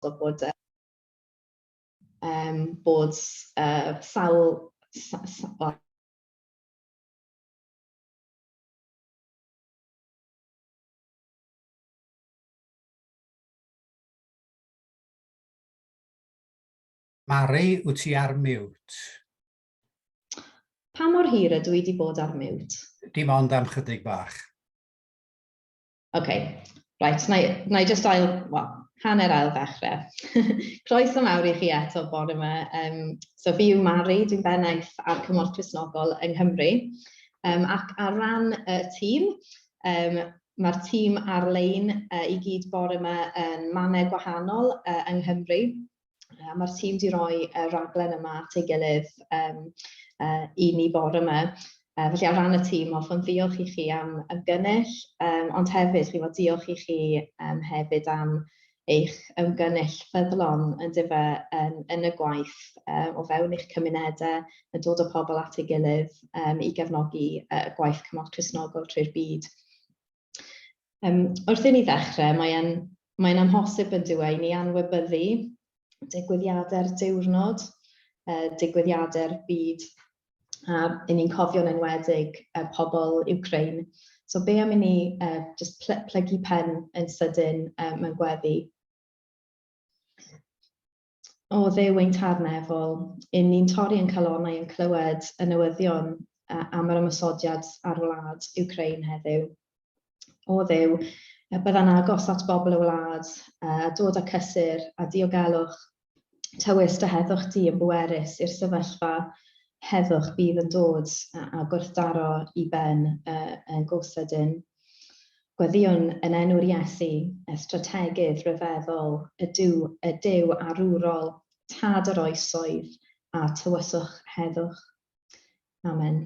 So bod e yym bod yy sawl sa- sa- o, Mari, wyt ti ar mute? Pa mor hir ydw i di bod ar mute? Dim ond am chydig bach. OK. Right, na i, na i just ail, well, hanner ail ddechrau. Croeso mawr i chi eto bore yma. Um, so fi yw Mari, dwi'n bennaeth ar Cymorth Crisnogol yng Nghymru. Um, ac ar ran y uh, tîm, um, mae'r tîm ar-lein uh, i gyd bore yma yn mannau gwahanol uh, yng Nghymru. Uh, Mae'r tîm wedi rhoi y uh, raglen yma at ei gilydd um, uh, i ni bore yma. Uh, felly ar ran y tîm, hoffwn ddiolch i chi am ymgynnull, um, ond hefyd, chi fod diolch i chi um, hefyd am eich ymgynnull ffyddlon yn dyfa um, yn y gwaith um, o fewn eich cymunedau, yn dod o pobl at ei gilydd um, i gefnogi uh, gwaith cymorth Cresnogol trwy'r byd. Um, wrth i ni ddechrau, mae'n mae amhosib yn dywe i ni anwybyddu digwyddiadau'r diwrnod, uh, digwyddiadau'r byd, a i ni'n cofio'n enwedig uh, pobl Ukraine. So be am i ni uh, just pl plygu pen yn sydyn uh, mewn gweddi? o Dduw ein Tad Nefol, yn ni'n torri yn calonnau yn clywed y newyddion am yr ymosodiad ar wlad Ukraine heddiw. O Dduw, byddai'n agos at bobl y wlad, a dod â cysur a diogelwch tywys dy heddwch di yn bwerus i'r sefyllfa heddwch bydd yn dod a gwrthdaro i ben yn gosedyn. Gweddïwn yn enw'r Iesu, y Strategydd Rhyfeddol, y Duw, y Duw arwrol, Tad yr Oesoedd, a tywyswch heddwch. Amen.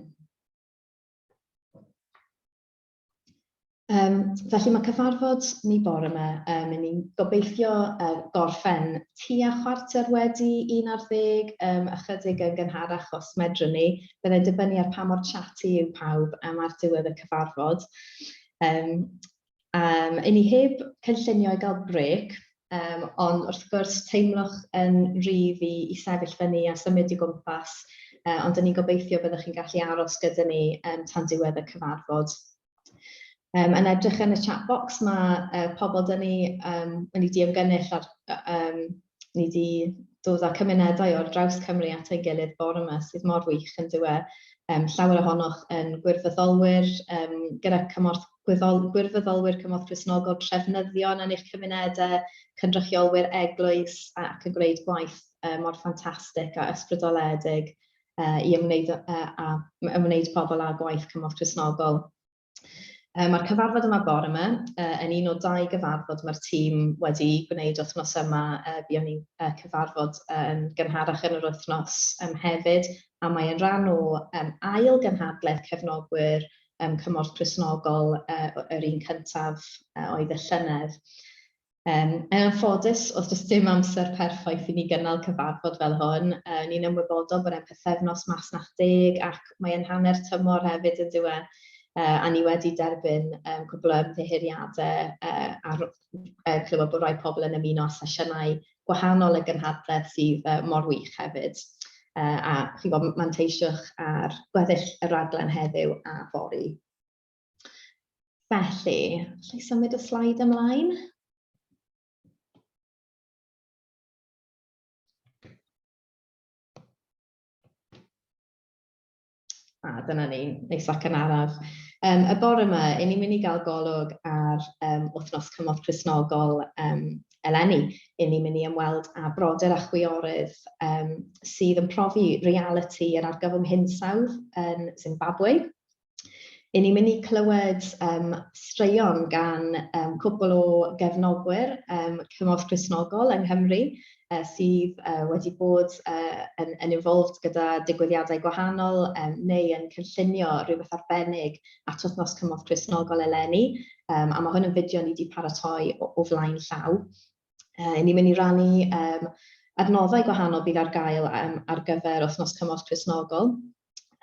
Um, felly mae cyfarfod ni bore yma, um, yn ni'n gobeithio uh, gorffen tua chwarter wedi un ar ddeg, um, ychydig yn gynharach os medrwn ni, Byddai dibynnu ar pa mor chatty yw pawb am ar diwedd y cyfarfod. Um, um, I ni heb cynllunio i gael brec, um, ond wrth gwrs teimlwch yn rhydd i, i sefyll fyny a symud i gwmpas, uh, ond yn ni'n gobeithio byddwch chi'n gallu aros gyda ni um, tan diwedd y cyfarfod. Yym, yn edrych yn y chat box, mae uh, pobl dyn ni um, yn ei diymgynnull ar, um, ni wedi dod â cymunedau o'r draws Cymru at ei gilydd bore yma sydd mor wych yn dywe. Um, llawer ohonoch yn gwirfoddolwyr um, gyda cymorth gwyddol, gwirfoddolwyr cymorth Cresnogol, trefnyddion yn eich cymunedau, cynrychiolwyr eglwys ac yn gwneud gwaith um, mor ffantastig a ysbrydoledig i ymwneud â ymwneud pobl â gwaith cymorth Cristnogol. Mae'r cyfarfod yma bore yma yn un o dau gyfarfod mae'r tîm wedi gwneud wythnos yma. Buon ni'n cyfarfod yn gynharach yn yr wythnos hefyd, a mae'n rhan o ail gynhadledd cefnogwyr cymorth Cristnogol, yr un cyntaf oedd y llynedd. Yn anffodus, oedd does dim amser perffaith i ni gynnal cyfarfod fel hwn. Ni'n ymwybodol bod e'n pythefnos Masnach Deg ac mae e'n hanner tymor hefyd yndyw e, a ni wedi derbyn cwpl o ymddiheuriadau a chlywed bod rhai pobl yn ymuno â sesiynau gwahanol y gynhadledd sydd mor wych hefyd. A chi'n gwybod, manteisiwch ar gweddill y rhaglen heddiw a fory. Felly, allai symud y slaid ymlaen? A dyna ni, neis ac yn araf. Um, y bore yma, i ni'n mynd i gael golwg ar um, wythnos cymorth Cresnogol um, eleni. I ni'n mynd i ymweld â brodyr a chwiorydd um, sydd yn profi reality yr argyfwng hinsawdd yn Zimbabwe. 'y ni'n mynd i clywed yym straeon gan yym cwpwl o gefnogwyr yym cymorth Cristnogol yng Nghymru yy sydd yy wedi bod yy yn yn involved gyda digwyddiadau gwahanol yym neu yn cynllunio rhywbeth arbennig at wythnos cymorth Cristnogol eleni yym a ma' hwn yn fideo ni 'di paratoi o o flaen llaw. Yy 'yn ni'n mynd i rannu yym adnoddau gwahanol bydd ar gael yym ar gyfer wythnos cymorth Cristnogol.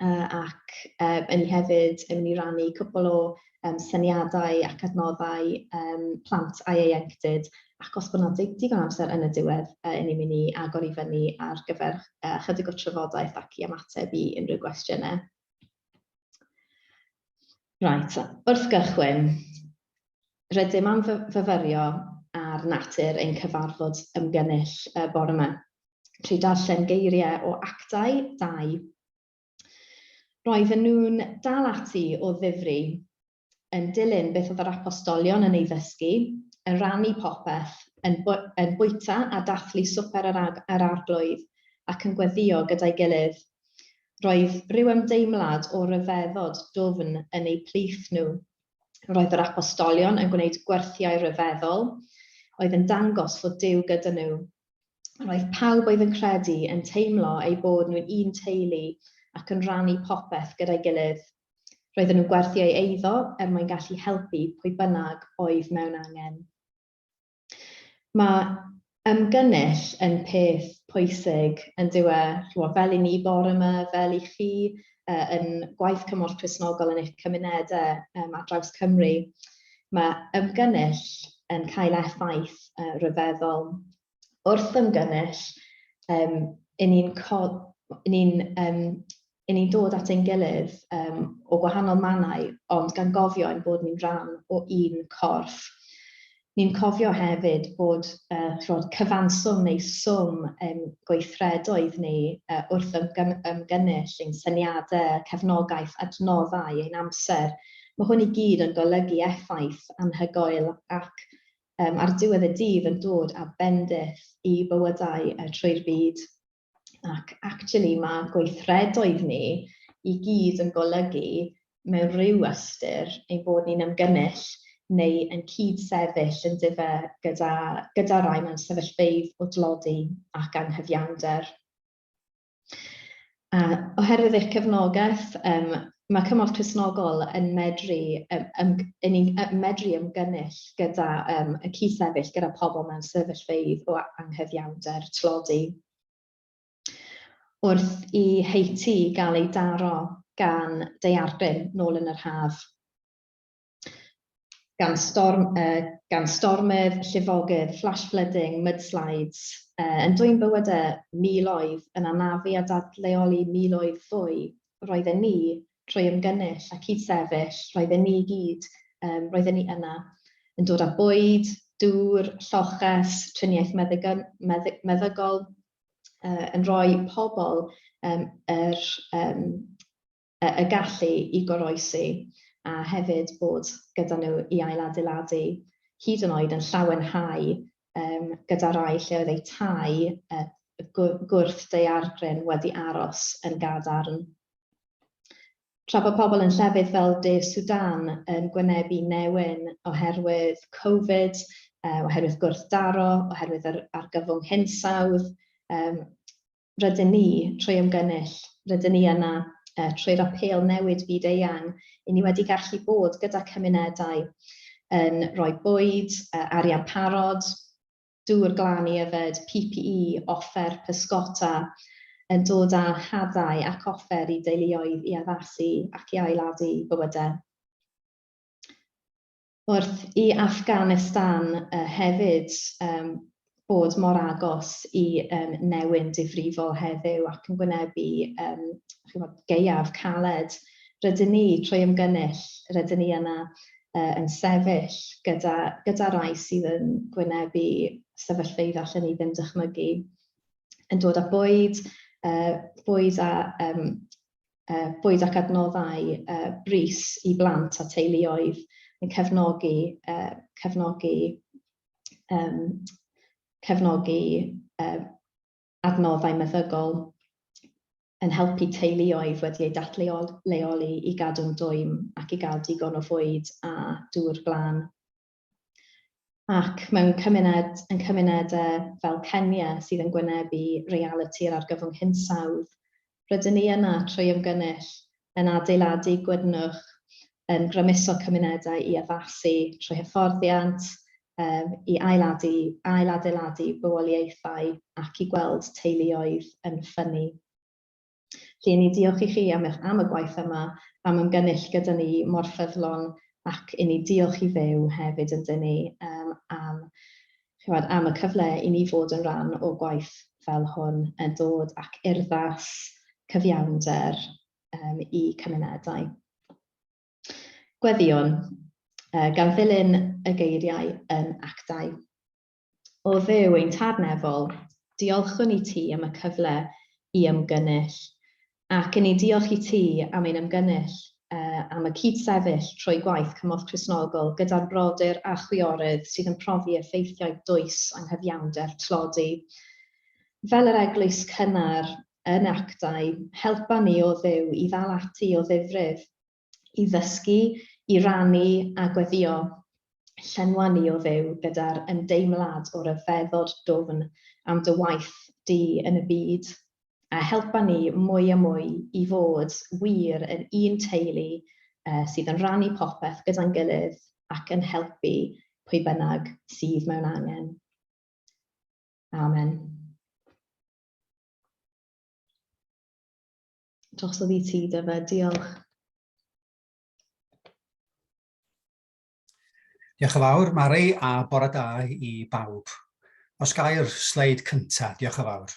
uh, ac uh, yn ni hefyd yn mynd i rannu cwpl o um, syniadau ac adnoddau um, plant a ieuenctid ac os bod yna digon amser yn y diwedd, uh, yn ni'n mynd i agor i fyny ar gyfer uh, chydig o trafodaeth ac i ymateb i unrhyw gwestiynau. Right, wrth gychwyn, rydym am fyfyrio ar natur ein cyfarfod ymgynnull y bore yma. trwy darllen geiriau o actau dau. Roedden nhw'n dal ati o ddifri, yn dilyn beth oedd yr apostolion yn ei ddysgu, yn rannu popeth, yn, yn bwyta a dathlu swper yr, ag, yr arglwydd, ac yn gweddïo gyda'i gilydd. Roedd rhyw ymdeimlad o ryfeddod dwfn yn eu plith nhw. Roedd yr apostolion yn gwneud gwerthiau rhyfeddol, oedd yn dangos fod Duw gyda nhw, Roedd pawb oedd yn credu yn teimlo eu bod nhw'n un teulu ac yn rhannu popeth gyda'i gilydd. Roedden nhw'n gwerthu ei eiddo er mwyn gallu helpu pwy bynnag oedd mewn angen. Mae ymgynnull yn peth pwysig, yn dyw e? Chimod, fel i ni bore yma, fel i chi, yy yn gwaith cymorth Cristnogol yn eich cymunedau um, ar draws Cymru, mae ymgynnull yn cael effaith uh, rhyfeddol. Wrth ymgynnull, um, yn ni'n ni um, yn ni'n dod at ein gilydd um, o gwahanol mannau, ond gan gofio ein bod ni'n rhan o un corff. Ni'n cofio hefyd bod y ch'mod cyfanswm neu swm ein gweithredoedd ni wrth ymgynnull, ein syniadau, cefnogaeth, adnoddau, ein amser, mae hwn i gyd yn golygu effaith anhygoel ac ar diwedd y dydd yn dod â bendith i bywydau trwy'r byd. Ac actually mae gweithredoedd ni i gyd yn golygu mewn rhyw ystyr ein bod ni'n ymgynnull neu yn cyd-sefyll yn dife gyda, gyda rai mewn sefyllfeydd o dlodi ac anghyfiawnder. A oherwydd eich cefnogaeth, um, Mae cymorth Cristnogol yn medru ymgynnull gyda y cyd-sefyll gyda pobl mewn sefyllfeydd o anghyfiawnder tlodi. Wrth i Haiti gael ei daro gan daeargryn nôl yn yr haf, gan storm, uh, gan stormydd, llifogydd, flash flooding, mudslides, uh, yn dwyn bywydau miloedd, yn anafu a dadleoli miloedd fwy, roedden ni trwy ymgynnull a cyd-sefyll, roedden ni gyd, um, roedden ni yna, yn dod â bwyd, dŵr, lloches, triniaeth meddygol, meddygol uh, yn rhoi pobl um, yr, um, y gallu i goroesi a hefyd bod gyda nhw i ailadeiladu hyd yn oed yn llawenhau yym gyda rai lle oedd eu tai gwrth daeargryn wedi aros yn gadarn. Tra bod pobl yn llefydd fel De Sudan yn gwynebu newyn oherwydd Covid, oherwydd gwrthdaro, oherwydd yr argyfwng hinsawdd, rydyn ni, trwy ymgynnull, rydyn ni yna, trwy'r apêl Newid Byd Eang, i ni wedi gallu bod gyda cymunedau yn rhoi bwyd, arian parod, dŵr glân i yfed, PPE, offer pysgota, yn dod â hadau ac offer i deuluoedd i addasu ac i ailadu bywydau. wrth i Affganistan hefyd fod mor agos i newyn difrifol heddiw ac yn gwynebu gaeaf caled, rydyn ni, trwy ymgynnull, rydyn ni yna yn sefyll gyda rai sydd yn gwynebu sefyllfeydd allen ni ddim dychmygu, yn dod â bwyd, bwyd a bwyd ac adnoddau brys i blant a teuluoedd yn cefnogi cefnogi um, cefnogi um, adnoddau meddygol yn helpu teuluoedd wedi eu datleoli i gadw'n dwym ac i gael digon o fwyd a dŵr glân. Ac mewn cymuned, yn cymunedau fel Kenya sydd yn gwynebu realiti'r argyfwng hinsawdd, rydyn ni yna trwy ymgynnull, yn adeiladu gwydnwch, yn grymuso cymunedau i addasu trwy hyfforddiant, i ailadu, ailadeiladu bywoliaethau ac i gweld teuluoedd yn ffynnu. Felly, i ni diolch i chi am eich am y gwaith yma, am ymgynnull gyda ni mor ffyddlon, ac i ni diolch i Dduw hefyd ynddyn ni yym am chimod am y cyfle i ni fod yn rhan o gwaith fel hwn yn dod ac urddas cyfiawnder um, i cymunedau. Gweddion, uh, gan ddilyn y geiriau yn actau. O Dduw ein Tad Nefol, diolchwn i ti am y cyfle i ymgynnull, ac yn ni diolch i ti am ein ymgynnull am y cyd-sefyll trwy gwaith Cymorth Cristnogol gyda'r brodyr a chwiorydd sydd yn profi effeithiau dwys anghyfiawnder tlodi fel yr eglwys cynnar yn Actau. Helpa ni, O Dduw, i ddal ati o ddifrif. i ddysgu, i rannu a gweddio, llenwa ni o Dduw gyda'r ymdeimlad o ryfeddod dwfn am dy waith di yn y byd, a helpa ni mwy a mwy i fod wir yn un teulu sydd yn rannu popeth gyda'n gilydd ac yn helpu pwy bynnag sydd mewn angen. Amen. drosodd i ti, Dyfe. Diolch. Diolch yn fawr, Mari, a bore da i bawb. Os gair sleid cyntaf, diolch yn fawr.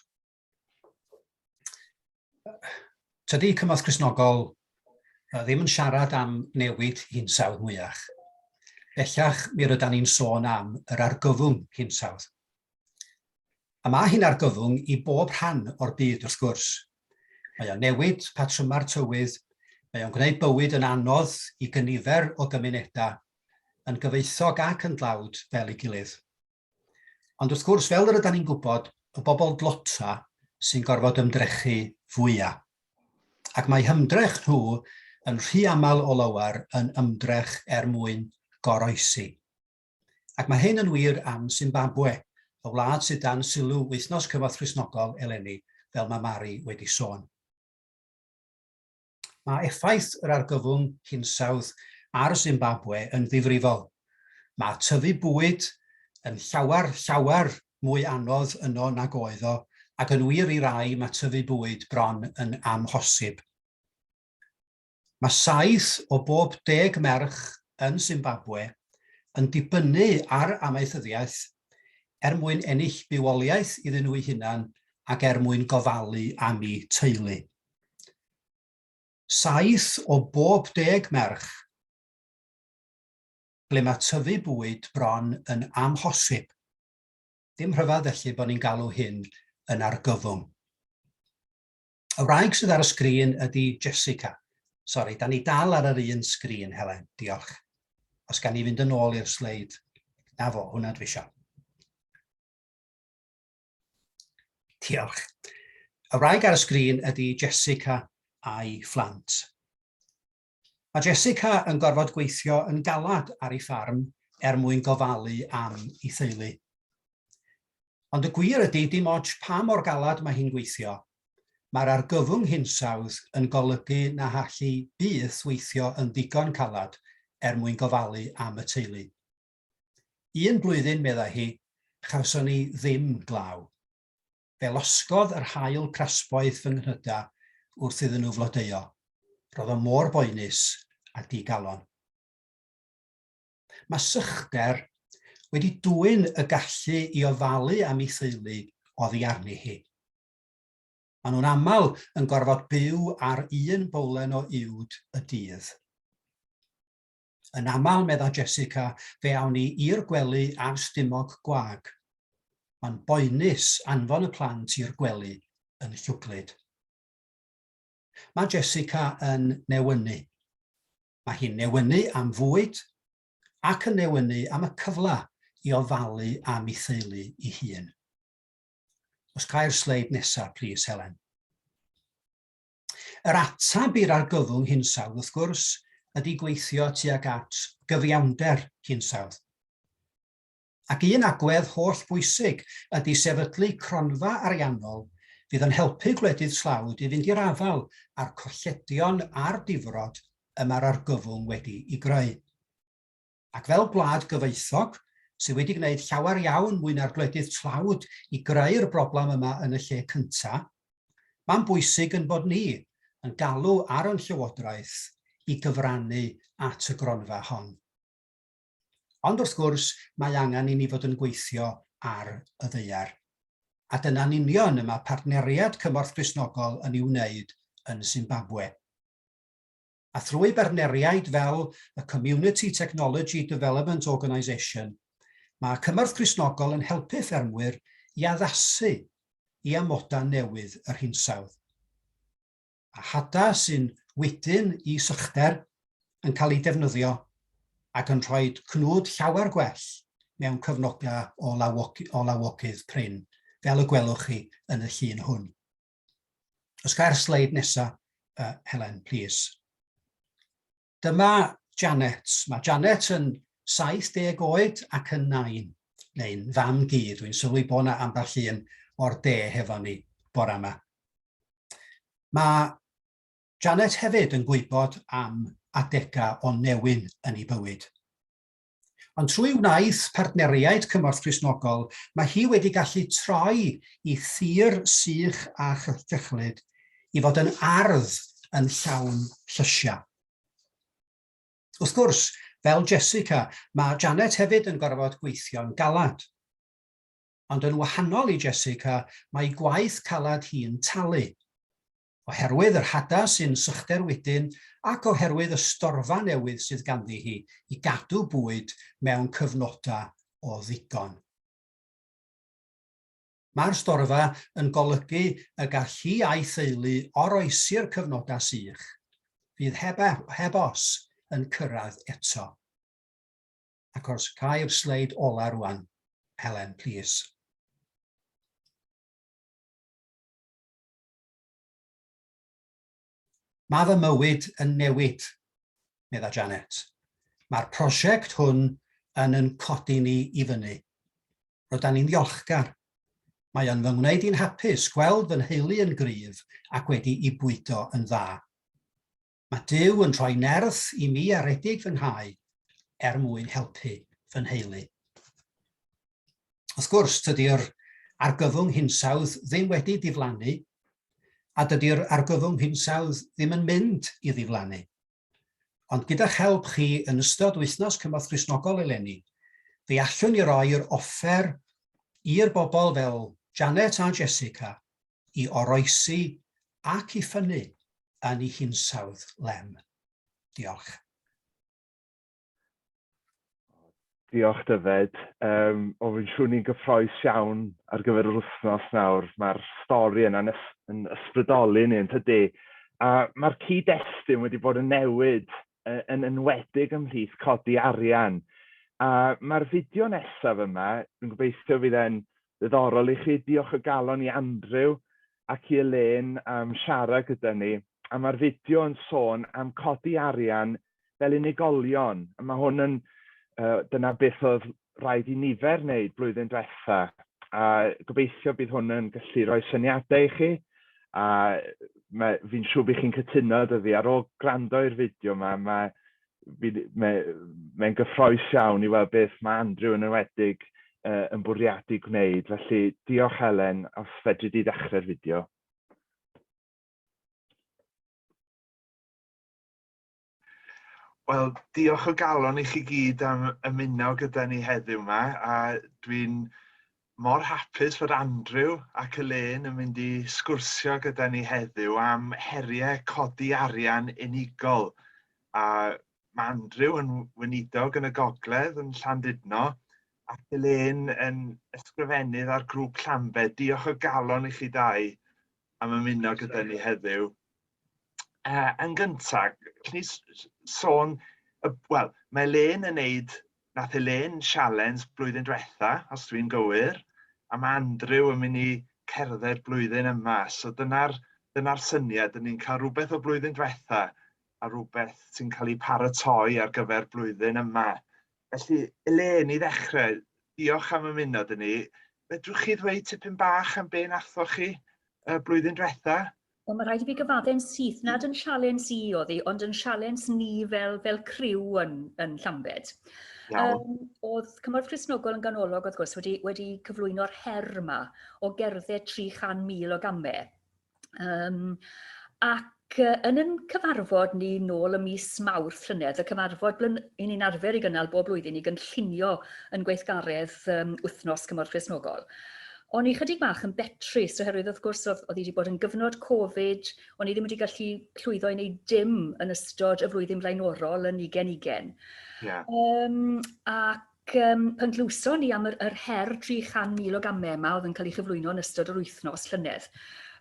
Tydy cymorth Cresnogol ddim yn siarad am newid hinsawdd mwyach. Bellach, mi rydan ni'n sôn am yr argyfwng hinsawdd. A mae hi'n argyfwng i bob rhan o'r byd, wrth gwrs, Mae o'n newid patrymau'r tywydd, mae o'n gwneud bywyd yn anodd i gynifer o gymunedau, yn gyfoethog ac yn dlawd fel ei gilydd. Ond wrth gwrs, fel yr ydan ni'n gwybod, y bobl dlota sy'n gorfod ymdrechu fwya. Ac mae hymdrech nhw yn rhy aml o lawer yn ymdrech er mwyn goroesi. Ac mae hyn yn wir am Simbabwe, y wlad sydd dan sylw Wythnos Cyfoeth Cristnogol eleni, fel mae Mari wedi sôn. Mae effaith yr argyfwng hinsawdd ar Simbabwe yn ddifrifol. Mae tyfu bwyd yn llawer, llawer mwy anodd yno nag oedd o, ac yn wir i rai mae tyfu bwyd bron yn amhosib. Mae saith o bob deg merch yn Simbabwe yn dibynnu ar amaethyddiaeth er mwyn ennill bywoliaeth iddyn nhw'u hunan ac er mwyn gofalu am'u teulu. Saith o bob deg merch ble mae tyfu bwyd bron yn amhosib. Dim rhyfedd felly bod ni'n galw hyn yn argyfwng. Y wraig sydd ar y sgrin ydy Jessica. Sori, da ni dal ar yr un sgrin, Helen. Diolch. Os gan ni fynd yn ôl i'r sleid. Na fo, hwnna dwi eisiau. Diolch. Y wraig ar y sgrin ydy Jessica a'i phlant. Mae Jessica yn gorfod gweithio yn galed ar ei ffarm er mwyn gofalu am ei theulu. Ond y gwir ydy, dim ots pa mor galed mae hi'n gweithio, mae'r argyfwng hinsawdd yn golygu na all hi byth weithio yn ddigon caled er mwyn gofalu am y teulu. Un blwyddyn, meddai hi, chawson ni ddim glaw. fe losgodd yr haul crasboeth fy nghnyda wrth iddyn nhw flodeuo. Roedd o mor boenus a di-galon. Mae sychder wedi dwyn y gallu i ofalu am ei theulu oddi arni hi. Maen nhw'n aml yn gorfod byw ar un bowlen o uwd y dydd. Yn aml, medda Jessica, fe awn ni i'r gwely ar stumog gwag. Mae'n boenus anfon y plant i'r gwely yn llwglyd. Mae Jessica yn newynu. Mae hi'n newynu am fwyd ac yn newynu am y cyfle i ofalu am ei theulu i hun. Os cai'r sleid nesaf, plis, Helen. Yr ateb i'r argyfwng hinsawdd, wrth gwrs, ydy gweithio tuag at gyfiawnder hinsawdd. Ac un agwedd holl bwysig ydy sefydlu cronfa ariannol fydd yn helpu gwledydd tlawd i fynd i'r afael â'r colledion a'r difrod y mae'r argyfwng wedi i greu. Ac fel gwlad gyfoethog, sydd wedi gwneud llawer iawn mwy na'r gwledydd tlawd i greu'r broblem yma yn y lle cyntaf, mae'n bwysig yn bod ni yn galw ar yn Llywodraeth i gyfrannu at y gronfa hon. Ond wrth gwrs, mae angen i ni fod yn gweithio ar y ddaear. A dyna'n union y mae Partneriad Cymorth Cristnogol yn ei wneud yn Zimbabwe. a thrwy bartneriaid fel y Community Technology Development Organisation, mae Cymorth Cristnogol yn helpu ffermwyr i addasu i amodau newydd yr hinsawdd. A hada sy'n wydyn i sychder yn cael ei defnyddio ac yn rhoi cnwd llawer gwell mewn cyfnodau o, lawogy, o lawogydd prin, fel y gwelwch chi yn y llun hwn. Os cair sleid nesa, uh, Helen, please. Dyma Janet. Mae Janet yn 70 oed ac yn nain, neu'n fam gi. Dwi'n sylwi bod yna ambell un o'r de hefo ni bore yma. Mae Janet hefyd yn gwybod am adegau o newyn yn ei bywyd. Ond trwy wnaeth partneriaid cymorth Cristnogol, mae hi wedi gallu troi i thir sych a chyllid i fod yn ardd yn llawn llysiau. Wrth gwrs, fel Jessica, mae Janet hefyd yn gorfod gweithio'n galad. Ond yn wahanol i Jessica, mae gwaith calad hi'n talu. Oherwydd yr hadas sy'n sychder wedyn ac oherwydd y storfa newydd sydd ganddi hi i gadw bwyd mewn cyfnodau o ddigon. Mae'r storfa yn golygu y gall hi a'i theulu oroesi'r cyfnodau sych, fydd heb, heb os, yn cyrraedd eto. Ac os cai'r sleid ola rwan, Helen, please. Mae fy mywyd yn newid, medda Janet. Mae'r prosiect hwn yn yn codi ni i fyny. Roeddan ni'n ddiolchgar. Mae o'n fy ngwneud i'n hapus gweld fy nheulu yn gryf ac wedi i bwydo yn dda. Mae Duw yn rhoi nerth i mi aredig fy nghau er mwyn helpu fy nheulu. Wrth gwrs, tydi'r argyfwng hinsawdd ddim wedi diflannu, a dydy'r argyfwng hinsawdd ddim yn mynd i ddiflannu. Ond gyda'ch help chi yn ystod wythnos cymorth Gristnogol eleni, fe allwn ni roi'r offer i'r bobl fel Janet a Jessica i oroesi ac i ffynnu yn ei hinsawdd lem. Diolch. Diolch, Dyfed. Um, o, fi'n siŵr ni'n gyffroes iawn ar gyfer yr wythnos nawr. Mae'r stori yna'n ys yn ysbrydoli ni, yn tydi? A mae'r cyd-destun wedi bod yn newid yn enwedig ymhlith codi arian. A mae'r fideo nesaf yma, dwi'n gobeithio fydd e'n Ddiddorol i chi. Diolch o galon i Andrew ac i Elaine am siarad gyda ni. A mae'r fideo yn sôn am codi arian fel unigolion. A mae hwn yn, uh, dyna beth oedd rhaid i nifer wneud blwyddyn diwetha. A gobeithio bydd hwn yn gallu rhoi syniadau i chi. A mae, fi'n siŵr bydd chi'n cytuno dy fi, ar ôl gwrando i'r fideo yma, mae mae'n gyffroes iawn i weld beth mae Andrew yn enwedig uh, yn bwriadu gwneud. Felly, diolch Helen, os fedri di ddechrau'r fideo. Wel, diolch o galon i chi gyd am ymuno gyda ni heddiw yma, a dwi'n mor hapus fod Andrew ac Elaine yn mynd i sgwrsio gyda ni heddiw am heriau codi arian unigol. A mae Andrew yn weinidog yn y gogledd yn Llandudno ac Elaine yn ysgrifennydd ar grŵp Llambe. Diolch o galon i chi dau am ymuno gyda ni heddiw. Uh, yn gyntaf, gallwn ni sôn, uh, wel, mae Elaine yn neud nath Elaine sialens blwyddyn dwetha os dwi'n gywir a ma' Andrew yn myn' i cerdded blwyddyn yma so dyna'r dyna'r syniad 'yn ni'n ca'l rwbeth o blwyddyn dwetha a rwbeth sy'n ca'l 'i paratoi ar gyfer blwyddyn yma. Felly Elaine i ddechre diolch am ymuno 'dy ni. Fedrwch chi ddweud tipyn bach am be' nathoch chi y blwyddyn dwetha? Wel, mae rhaid i fi gyfaddu'n syth nad yn sialens i oedd hi, ond yn sialens ni fel fel criw yn yn Llambed. Iawn. Um, oedd Cymorth Cristnogol yn ganolog wrth gwrs wedi wedi cyflwyno'r her yma o gerdded 300,000 o gambe. Um, ac uh, yn yn cyfarfod ni nôl y mis Mawrth llynedd, y cyfarfod blyn, i ni'n arfer i gynnal bob blwyddyn i gynllunio yn gweithgaredd um, wythnos Cymorth Cristnogol. O'n i chydig bach yn betrus oherwydd wrth gwrs oedd oedd hi wedi bod yn gyfnod Covid, o'n i ddim wedi gallu llwyddo i wneud dim yn ystod y flwyddyn blaenorol yn ugen ugen. Yeah. Um, ac um, pan glywson ni am yr, yr her 300,000 o gamau yma oedd yn cael ei chyflwyno yn ystod yr wythnos llynedd,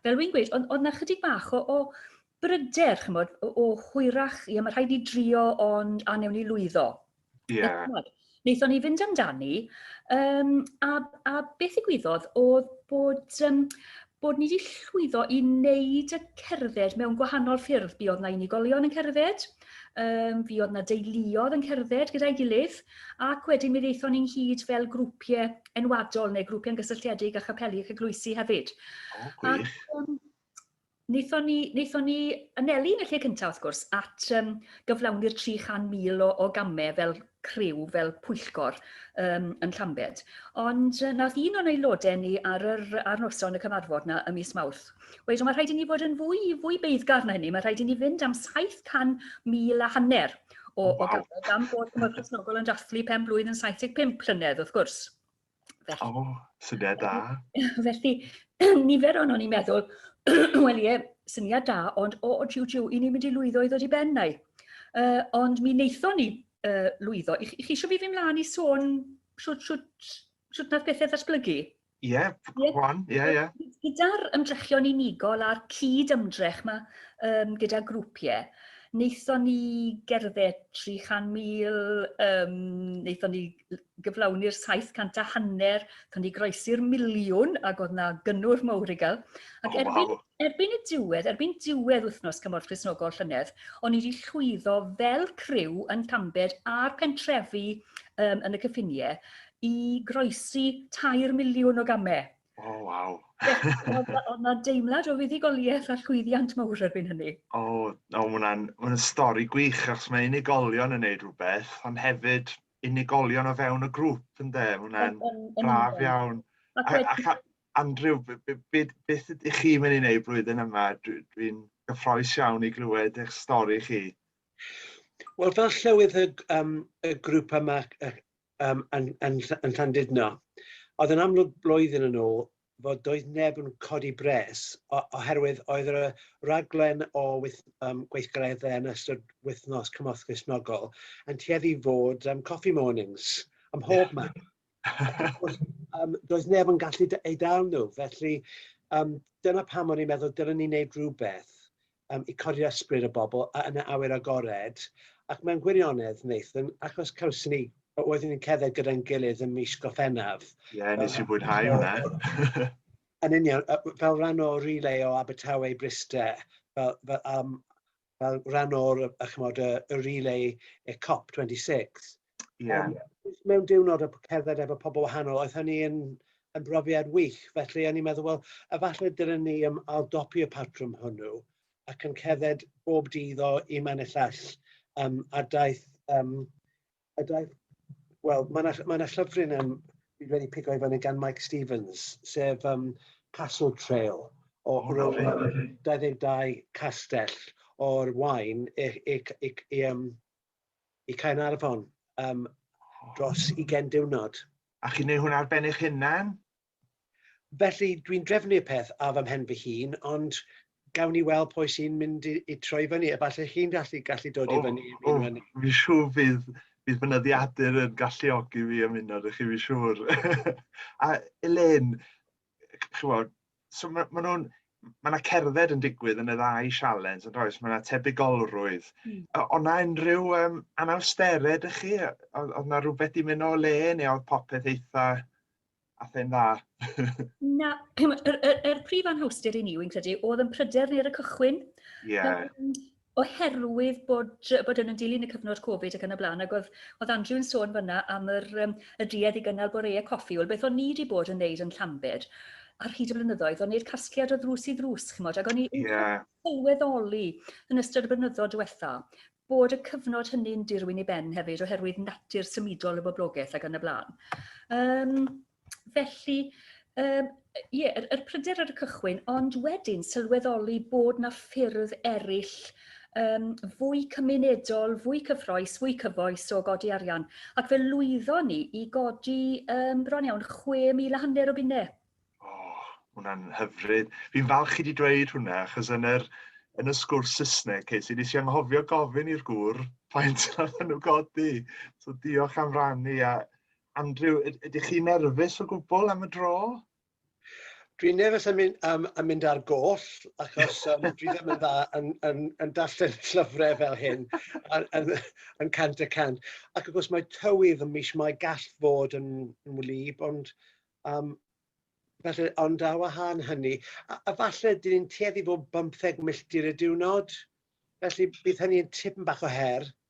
fel wy'n gweud, oedd, oedd na chydig bach o, o bryder, chymod, o, o hwyrach, ia, mae rhaid ni drio ond a newn ni lwyddo. Ie. Wnaethon ni fynd amdani, um, a, a beth ddigwyddodd oedd bod, um, bod ni wedi llwyddo i wneud y cerdded mewn gwahanol ffyrdd. Fi oedd na unigolion yn cerdded, um, fi oedd na deuluodd yn cerdded gyda'i gilydd, ac wedyn mi ddeithon ni'n hyd fel grwpiau enwadol neu grwpiau yn gysylltiedig â chapelu ac eglwysi hefyd. O, gwych. Ac, um, Wnaethon ni, wnaethon ni anelu yn y lle cyntaf, wrth gwrs, at um, gyflawni'r 300,000 o, o gamau fel criw, fel pwyllgor um, yn Llambed. Ond uh, nath un o'n aelodau ni ar, yr, ar noson y cyfarfod na ym mis Mawrth. Weithio, mae rhaid i ni fod yn fwy, fwy beiddgar na hynny. Mae rhaid i ni fynd am 700,000 a hanner o, o gamau gan bod Cymru Cresnogol yn dathlu pen blwydd yn 75 llynedd, wrth gwrs. Felly, oh, syniad da. Felly, nifer o'n o'n i'n meddwl, wel ie, syniad da, ond o, o jiw jiw, i ni'n mynd i lwyddo i ddod i ben nau. Uh, ond mi wnaethon ni uh, lwyddo. I, I chi eisiau fi fi mlaen i sôn siwt, siwt, siwt nath bethau ddatblygu? Ie, yeah, one, ie, yeah, ie. Yeah. Gyda'r ymdrechion unigol a'r cyd ymdrech yma um, gyda grwpiau, wnaethon ni gerdded 300,000, um, wnaethon ni gyflawni'r 700 a hanner, tan i groesi'r miliwn, ac oedd na gynnwrf mawr i gael. Ac oh, erbyn, wow. erbyn y diwedd, erbyn diwedd wythnos Cymorth Christnogol llynedd, o'n i wedi llwyddo fel criw yn Llambed a'r pentrefi um, yn y cyffiniau i groesi 3 miliwn o gamau. O, oh, waw. Oedd yna deimlad o fuddugoliaeth a llwyddiant mawr erbyn hynny. O, oh, oh, mae hwnna'n stori gwych, achos mae unigolion yn neud rhywbeth, ond hefyd unigolion o fewn y grŵp ynde? Mae hwnna'n braf iawn. Ac a, Andrew, beth ydych chi'n mynd i wneud blwyddyn yma? Dwi'n dwi gyffroes iawn i glywed eich stori chi. Wel, fel llywydd y, um, y grŵp yma um, yn, yn, yn Llandudno, oedd yn amlwg blwyddyn yn ôl, fod doedd neb yn codi bres oherwydd oedd y rhaglen o wyth, um, gweithgareddau yn ystod wythnos cymorth Gristnogol yn tueddu fod um, coffee mornings ym mhob yeah. man. um, doedd neb yn gallu ei dal nhw, felly um, dyna pam o'n i'n meddwl dylwn ni'n gwneud rhywbeth um, i codi ysbryd y bobl yn y awyr agored, ac mewn gwirionedd, Nathan, achos cawson ni, oeddwn ni'n cedda gyda'n gilydd ym mis Goffennaf. Ie, yeah, nes i fwynhau hwnna. Yn union, fel rhan o relay o Abertawe i Bryste, fel, fel, um, fel rhan o'r, chymod, y, y relay y COP26, Ie. Yym, jyst mewn diwrnod a cerdded efo pobl wahanol, oedd hynny yn yn brofiad wych. Felly o'n i'n meddwl, wel, efallai dylen ni yym aildopi y patrwm hwnnw ac yn cerdded bob dydd o un man i'r llall. Yym, a daeth yym, a daeth... Wel, mae 'na mae 'na llyfryn yym dwi wedi pigo i fyny gan Mike Stevens, sef yym Castle Trail o O, ryw lyfli, lyfli. 22 castell o'r Waun i i c- i c- i yym i Caernarfon um, dros 20 diwrnod. A chi'n neud hwn ar ben eich hunan? Felly, dwi'n drefnu'r peth ar fy mhen fy hun, ond gawn ni weld pwy sy'n mynd i, i troi fyny. Efallai chi'n gallu, gallu dod oh, i fyny. O, oh, fi siw fydd, fydd fy nyddiadur yn galluogi fi ymuno â chi, fi siwr. a Elaine, ch'mod, so ma' ma' nw'n ma' 'na cerdded yn digwydd yn y ddau sialens yndoes? oes ma' 'na tebygolrwydd. Hmm. O- o' 'na unrhyw yym anawstere dych chi yy o'dd o'dd 'na rwbeth 'di myn' o le neu o'dd popeth eitha ath e'n dda? Na ch'mo' yr yr yr prif anhawster i ni wi'n credu o'dd 'yn pryder ni ar y cychwyn. Ie. Yym oherwydd bod bod yn yn dilyn y cyfnod Covid ac yn y blaen, ac oedd, oedd Andrew yn sôn fyna am yr, um, y duedd i gynnal boreau coffi, wel beth o'n ni wedi bod yn neud yn Llambed ar hyd y blynyddoedd, o'n ni'r casgliad o ddrws i ddrws, chymod, ac o'n i yeah. sylweddoli yn ystod y blynyddoedd diwetha bod y cyfnod hynny'n dirwyn i ben hefyd oherwydd natur symudol y boblogaeth ac yn y blaen. Um, Felly yym ie yr yr pryder ar y cychwyn ond wedyn sylweddoli bod 'na ffyrdd eryll yym fwy cymunedol, fwy cyffrous, fwy cyfoes o godi arian ac fe lwyddon ni i godi yym bron iawn 6,000 a hanner o bunne. O, hwnna'n hyfryd. Fi'n falch chi 'di dweud hwnna achos yn yr yn y sgwrs Saesneg ces i nes i anghofio gofyn i'r gŵr faint nath nhw godi. So diolch am rannu a Andrew, ydych chi'n nerfus o gwbl am y dro? Dwi'n nerfus am, am, am mynd ar goll, achos um, dwi ddim yn dda yn, yn, yn darllen llyfrau fel hyn, yn, yn, yn cant y cant. Ac wrth gwrs mae tywydd yn mis mae gall fod yn, yn wlyb, ond um, Felly, ond ar wahân hynny, a, a falle dyn ni'n tueddu fod 15 milltir y diwrnod, felly bydd hynny'n tipyn bach o her,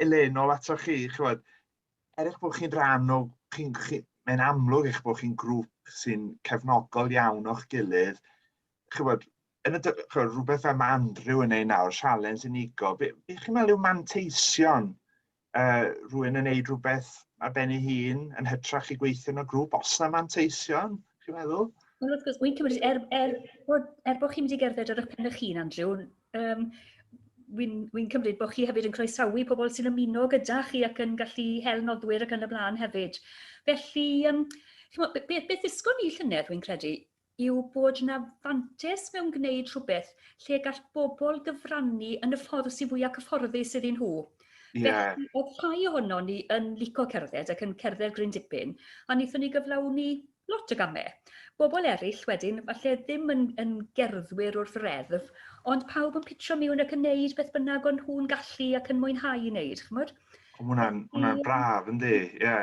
Elaine, nôl ato chi, chywed, er eich bod chi'n rhan o, chi, chi, mae'n amlwg eich bod chi'n grŵp sy'n cefnogol iawn o'ch gilydd, chywed, yn y, chywed, rhywbeth fel mae Andrew yn ei nawr, sialens unigo, be, be chi'n meddwl yw manteision uh, rwy'n yn neud rhywbeth ar ben ei hun yn hytrach i gweithio yn y grŵp, os na manteision, chi'n meddwl? Wel, wrth gwrs, wy'n cymryd, er, er, bod, er bod chi'n mynd i gerdded ar y pen eich hun, Andrew, Um, Wy'n wy cymryd bod chi hefyd yn croesawu pobl sy'n ymuno gyda chi ac yn gallu hel nodwyr ac yn y blaen hefyd. Felly, um, beth, beth ddysgon ni llynedd, wy'n credu, yw bod yna fantes mewn gwneud rhywbeth lle gall bobl gyfrannu yn y ffordd sy'n fwy ac cyfforddus iddyn nhw. Yeah. Felly, oedd rhai ohono ni yn lico cerdded ac yn cerdded gryn dipyn, a wnaethon ni gyflawni Lot o gamau. Bobl eraill wedyn, falle ddim yn yn gerddwyr wrth reddf, ond pawb yn pitro miwn ac yn wneud beth bynnag o'n nhw'n gallu ac yn mwynhau i wneud, chimod? O, ma' hwnna'n, ma' hwnna'n braf, yndi, ie.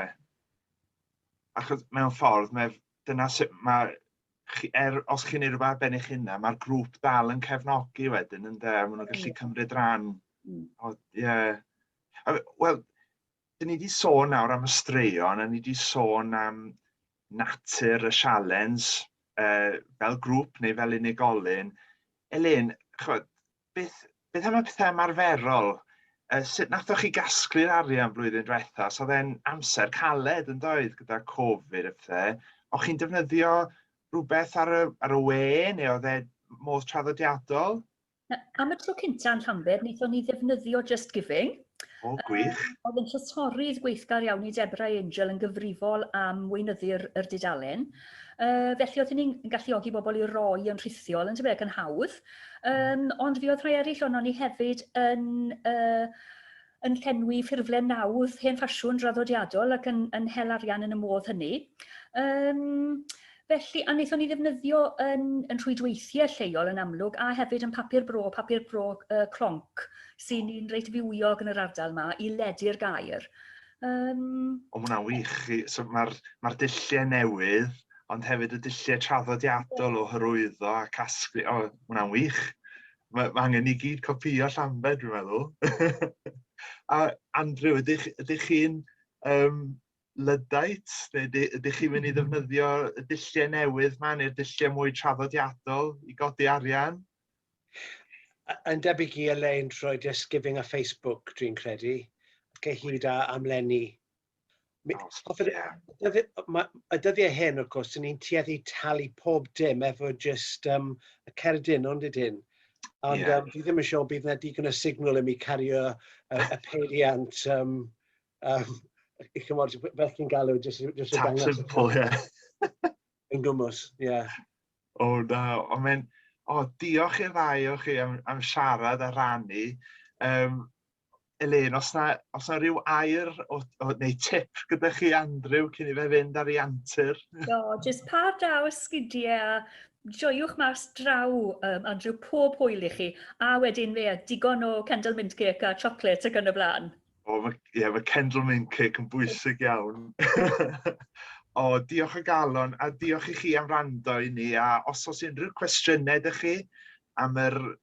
Achos mewn ffordd, mae dyna sut mae chi, er, os chi'n ei rhywbeth ben eich hunan, mae'r grŵp dal yn cefnogi wedyn, ynddo, a maen nhw'n gallu cymryd rhan. Mm. O, ie. Yeah. Wel, Dyn ni wedi sôn nawr am y straeon, a ni wedi sôn am natur y sialens uh, fel grŵp neu fel unigolyn. Elin, chod, beth, beth am y pethau ymarferol? Uh, sut nathoch chi gasglu'r arian blwyddyn diwetha? So dde'n amser caled yn doedd gyda Covid y pethau. O'ch chi'n defnyddio rhywbeth ar y, ar y we neu oedd e modd traddodiadol? Am y tro cynta yn Llanbed, wnaethon ni ddefnyddio Just Giving. O, gwych. Um, oedd yn llysorydd gweithgar iawn i Deborah Angel yn gyfrifol am weinyddu'r er dudalen. Uh, felly oedd ni'n galluogi bobl i roi yn rhithiol, yn tyfu ac yn hawdd. Um, ond fi oedd rhai eraill o'n ni hefyd yn... Uh, yn llenwi ffurflen nawdd hen ffasiwn draddodiadol ac yn, yn hel arian yn y modd hynny. Um, felly, a wnaethon ni ddefnyddio yn, yn rhwydweithiau lleol yn amlwg, a hefyd yn papur bro, papur bro uh, clonc, sy'n un reit fywiog yn yr ardal yma, i ledu'r gair. Um... O, mae hwnna'n wych. So, Mae'r ma dulliau newydd, ond hefyd y dulliau traddodiadol o hyrwyddo a casglu. O, mae hwnna'n wych. Mae angen i gyd copïo Llambed dwi'n meddwl. A Andrew, ydych, ydych chi'n um, Luddite? Neu ydych chi'n mynd i ddefnyddio y dulliau newydd ma neu'r dulliau mwy traddodiadol i godi arian? Yn debyg i Elaine trwy Just Giving a Facebook, dwi'n credu, cyhyd â amlenni O, ie. Y dyddiau hyn, wrth gwrs, ni'n tueddu talu pob dim efo jyst um, y cerdyn, ond ydyn. Ond yeah. um, fi ddim yn siŵr bydd yna digon o signal i mi cario y, y peiriant um, um, i chymod, fel chi'n galw, jyst i dangos. Tap simple, ie. Yn gwmwys, ie. O, na, ond mae'n... O, diolch i'r ddau o chi am, am siarad a rannu. Um, Elin, os na, os na rhyw air o, o, neu tip gyda chi Andrew cyn i fe fynd ar ei antur. Do, jyst pa draw ysgidiau a joiwch mas draw um, Andrew pob hwyl i chi a wedyn fe digon o candle mint cake a chocolate ac yn y blaen. O, mae, yeah, mae candle mint cake yn bwysig iawn. o, diolch o galon a diolch i chi am rando i ni a os oes unrhyw cwestiynau ydych chi am yr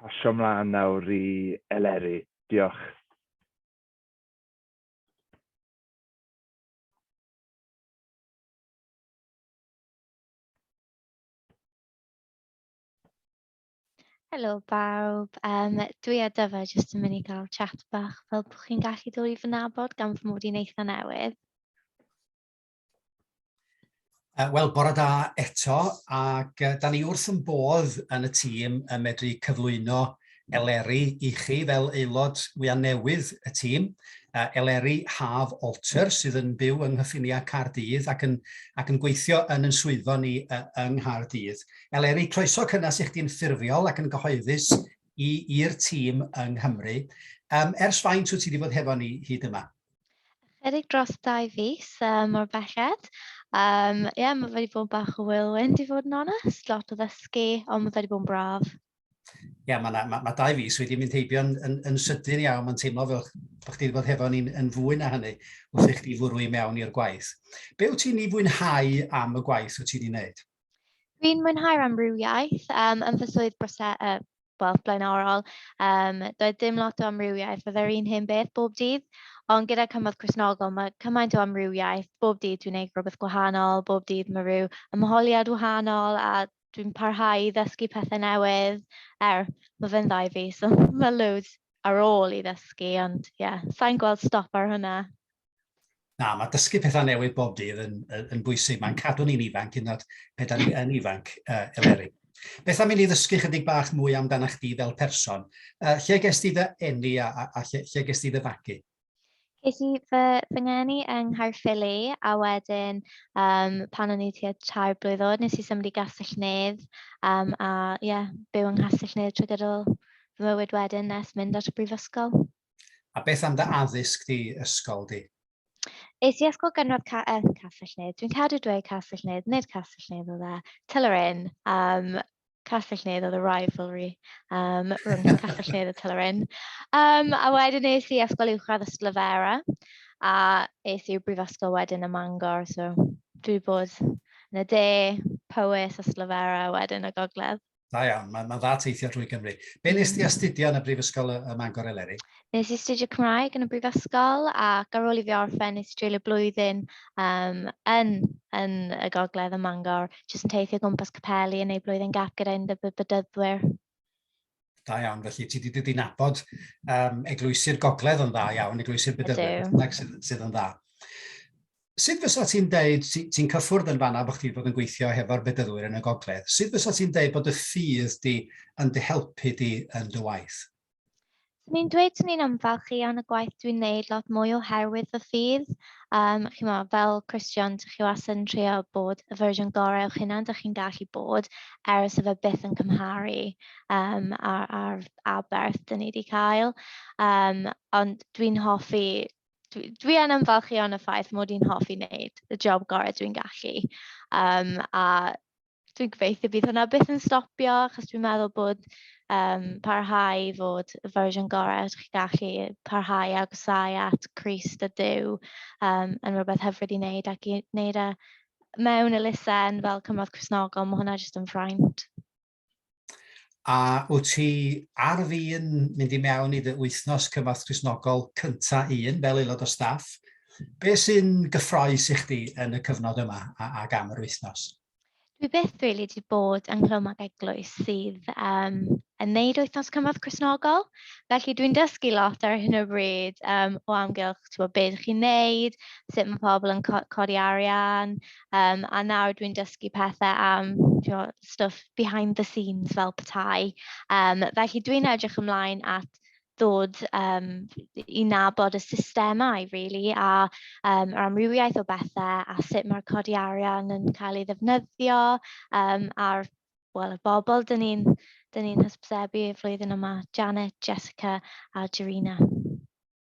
pasio mlaen nawr i Eleri. Diolch. Helo bawb, um, dwi a Dyfa jyst yn mynd i gael chat bach fel bod chi'n gallu dod i fy nabod gan fy mod i'n eitha newydd. Uh, Wel, bore da eto, ac uh, da ni wrth yn bodd yn y tîm yn medru cyflwyno Eleri i chi fel aelod wyau newydd y tîm, uh, Eleri Haf Alter, sydd yn byw yng Nghyffiniau Cardydd ac yn, ac yn gweithio yn yn swyddfa ni uh, yng Nghaerdydd. Eleri, croeso cynnes i chdi'n ffurfiol ac yn gyhoeddus i'r tîm yng Nghymru. Um, ers faint wyt ti wedi bod hefo ni hyd yma? Ychydig dros dau fus uh, mor belled. Um, yeah, mae wedi bod bach o whirlwind i fod yn onest, lot o ddysgu, ond mae wedi bod yn braf. Ie, yeah, mae ma, ma dau fus wedi mynd heibio yn, yn, yn sydyn iawn, mae'n teimlo fel bod chdi wedi bod hefo ni'n yn fwy na hynny wrth i chdi fwrw i mewn i'r gwaith. Be wyt ti'n ei fwynhau am y gwaith wyt ti'n ei wneud? Dwi'n mwynhau'r amrywiaeth um, yn fy swydd brose, uh, wel, blaenorol. Um, doedd dim lot o amrywiaeth, fydde'r un hyn beth bob dydd. Ond gyda cymorth Cresnogol, mae cymaint o amrywiaeth. Bob dydd dwi'n gwneud rhywbeth gwahanol, bob dydd mae rhyw ymholiad wahanol a dwi'n parhau i ddysgu pethau newydd. Er, mae fe'n ddau fi, so mae loads ar ôl i ddysgu, ond ie, yeah, sa'n gweld stop ar hwnna. Na, mae dysgu pethau newydd bob dydd yn, yn bwysig. Mae'n cadw ni'n ifanc, yn oed pe da ni yn ifanc, uh, Eleri. Beth am i ni ddysgu chydig bach mwy amdano chdi fel person? Uh, lle ges ti dy enni a, a, a lle, lle ges ti dy fagu? Ges i fy, fy ngeni yng Nghaerffili a wedyn um, pan o'n i tua tair blwydd oed nes i symud i Gastell Nedd um, a ie, yeah, byw yng Nghastell Nedd trwy gydol fy mywyd wedyn nes mynd at y brifysgol. A beth am dy addysg di, ysgol di? Es i ysgol gynradd ca yn Castell-nedd. Dwi'n cadw dweud Castell-nedd, nid Castell-nedd oedd e. Tylerin. Um, Castell-nedd oedd y rivalry um, rhwng Castell-nedd a Tylerin. Um, a wedyn es i ysgol uwchradd y Slyfera a es i'r brifysgol wedyn y Mangor. So dwi wedi bod yn y de, Powys a Slyfera wedyn y gogledd. Da iawn, mae'n ma dda teithio drwy Gymru. Be nes ti astudio yn y Brifysgol ym Mangor Eleri? Nes i astudio Cymraeg yn y Brifysgol ac ar ôl i fi orffen nes i dreulio blwyddyn um, yn, yn y gogledd ym Mangor, jyst yn teithio gwmpas capeli yn ei blwyddyn gap gyda un y bydyddwyr. Da iawn, felly ti wedi dod nabod um, eglwysi'r gogledd yn dda iawn, eglwysi'r bydyddwyr sydd, sydd yn dda. Sut fysa ti'n deud, ti, ti'n cyffwrdd yn fanna bod chdi wedi bod yn gweithio hefo'r bedyddwyr yn y gogledd, sut fysa ti'n deud bod y ffydd di yn dy helpu di yn dy waith? Swn i'n dweud swn i'n ymfalchio yn y gwaith dwi'n neud lot mwy oherwydd fy ffydd. Um, chi'n mo, fel Christian, dych chi was yn trio bod y fersiwn gorau o'ch hunan dych chi'n gallu bod er os efe byth yn cymharu um, ar, ar aberth dyn ni wedi cael. Um, ond dwi'n hoffi dwi dwi yn ymfalchïo yn y ffaith mod i'n hoffi wneud y job gorau dwi'n gallu. Um, a dwi'n gobeithio bydd hwnna byth yn stopio, achos dwi'n meddwl bod um, parhau i fod y fersiwn gorau ydych chi'n gallu parhau a gwsau at Christ a Dyw um, yn rhywbeth hyfryd i wneud ac i wneud e mewn elusen fel cymrodd Cresnogol, mae hwnna jyst yn ffraint. A wyt ti ar fin mynd i mewn i dy wythnos cymorth Cristnogol cynta un fel aelod o staff? Be sy'n gyffroes i chdi yn y cyfnod yma a, ac am yr wythnos? Dwi byth rili wedi bod ynghlwm ag eglwys sydd um, yn neud wythnos cymorth Cresnogol. Felly dwi'n dysgu lot ar hyn o bryd um, o amgylch ti'n bod, beth chi'n neud, sut mae pobl yn co codi arian, Yym, a nawr dwi'n dysgu pethe am timod stwff behind the scenes fel petai. Yym, felly dwi'n edrych ymlaen at ddod yym i nabod y systemau rili a yym yr amrywiaeth o bethe a sut mae'r codi arian yn cael ei ddefnyddio yym a'r wel y bobl dyn ni'n dyn ni'n hysbysebu y flwyddyn yma, Janet, Jessica a Jarina.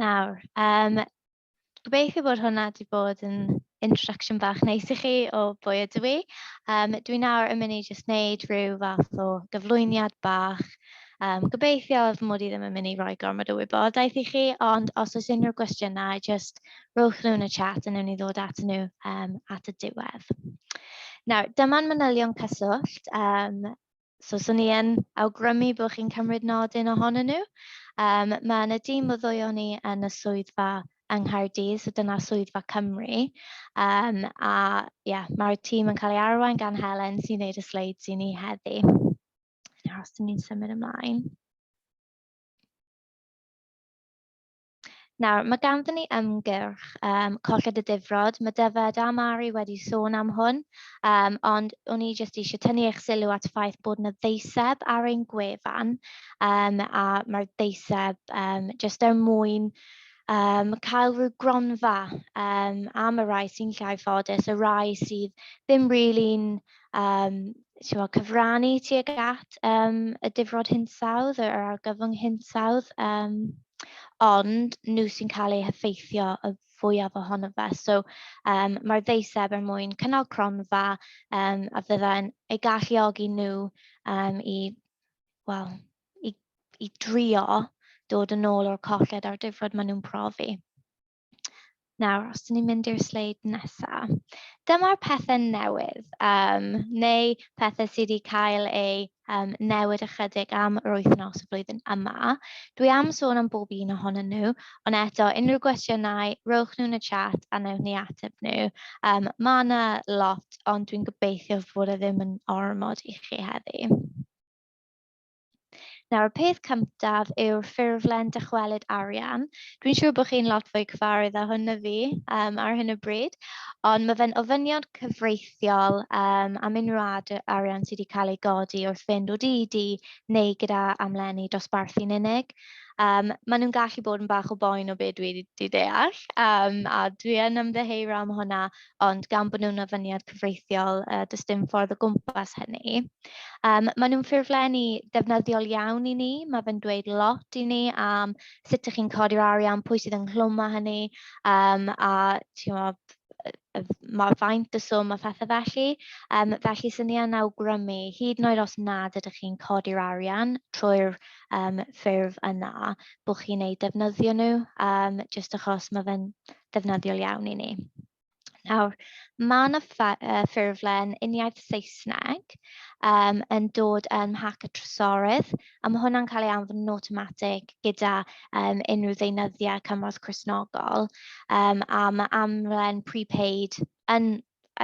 Nawr, um, gobeithio bod hwnna wedi bod yn introduction bach neis i chi o bwy ydw i. Um, dwi nawr yn mynd i jyst wneud rhyw fath o gyflwyniad bach. Um, gobeithio fy mod i ddim yn mynd i roi gormod o wybodaeth i chi, ond os oes unrhyw gwestiynau, jyst rhowch nhw yn y chat a newn ni ddod at nhw um, at y diwedd. Nawr, dyma'n manylion cyswllt. Um, so swn i yn awgrymu bod chi'n cymryd nodyn ohonyn nhw. Um, mae yna dîm o ddwy o'n i yn y swyddfa yng Nghaerdydd, so dyna swyddfa Cymru. Um, a yeah, mae'r tîm yn cael ei arwain gan Helen sy'n gwneud y sleid sy'n ni heddi. Nawr, os ni'n symud ymlaen. Nawr, mae ganddyn ni ymgyrch um, colled y difrod. Mae Dyfed a Mari wedi sôn am hwn, um, ond o'n i jyst eisiau tynnu eich sylw at y ffaith bod yna ddeiseb ar ein gwefan, um, a mae'r ddeiseb um, jyst er mwyn um, cael rhyw gronfa um, am y rai sy'n llai ffodus, y rai sydd ddim rili'n um, siwa, cyfrannu tuag at um, y difrod hinsawdd, yr argyfwng hinsawdd. Um, ond nhw sy'n cael eu heffeithio y fwyaf ohono fe. So um, mae'r ddeiseb er mwyn cynnal cronfa um, a fyddai'n ei galluogi nhw um, i, well, i, i drio dod yn ôl o'r colled a'r difrod maen nhw'n profi. Nawr, os 'dyn ni'n mynd i'r sleid nesa', dyma'r pethe newydd, yym neu pethe sy' 'di cael eu yym newid ychydig am yr wythnos y flwyddyn yma. Dwi am sôn am bob un ohonyn nhw, ond eto unrhyw gwestiynau, rowch nhw yn y chat a wnewn ni ateb nhw. Yym ma' 'na lot, ond dwi'n gobeithio fod e ddim yn ormod i chi heddi. Nawr, y peth cyntaf yw'r ffurflen dychwelyd arian. Dwi'n siŵr bod chi'n lot fwy cyfarwydd â hwn na fi um, ar hyn o bryd, ond mae fe'n ofynion cyfreithiol um, am unrhyw ad arian sydd wedi cael ei godi wrth fynd o DED neu gyda amlenni dosbarthu'n unig. Um, maen nhw'n gallu bod yn bach o boen o beth dwi wedi deall, um, a dwi yn ymddeheuro am hwnna, ond gan bod nhw'n ofyniad cyfreithiol, yy, does dim ffordd o gwmpas hynny. Um, maen nhw'n ffurflenni defnyddiol iawn i ni, mae fe'n dweud lot i ni am sut ych chi'n codi'r arian, pwy sydd ynghlwm â hynny, um, a bod, mae faint y swm a phethau felly. Um, felly, sy'n ni yn awgrymu, hyd yn oed os nad ydych chi'n codi'r arian trwy'r um, ffurf yna, bod chi'n eu defnyddio nhw, um, jyst achos mae fe'n ddefnyddiol iawn i ni. Nawr, mae yna ffurflen uniaith Saesneg um, yn dod yn mhac y trysorydd, a mae hwnna'n cael ei anfon yn automatic gyda um, unrhyw ddeunyddiau cymorth Cresnogol, um, a mae amlen prepaid yn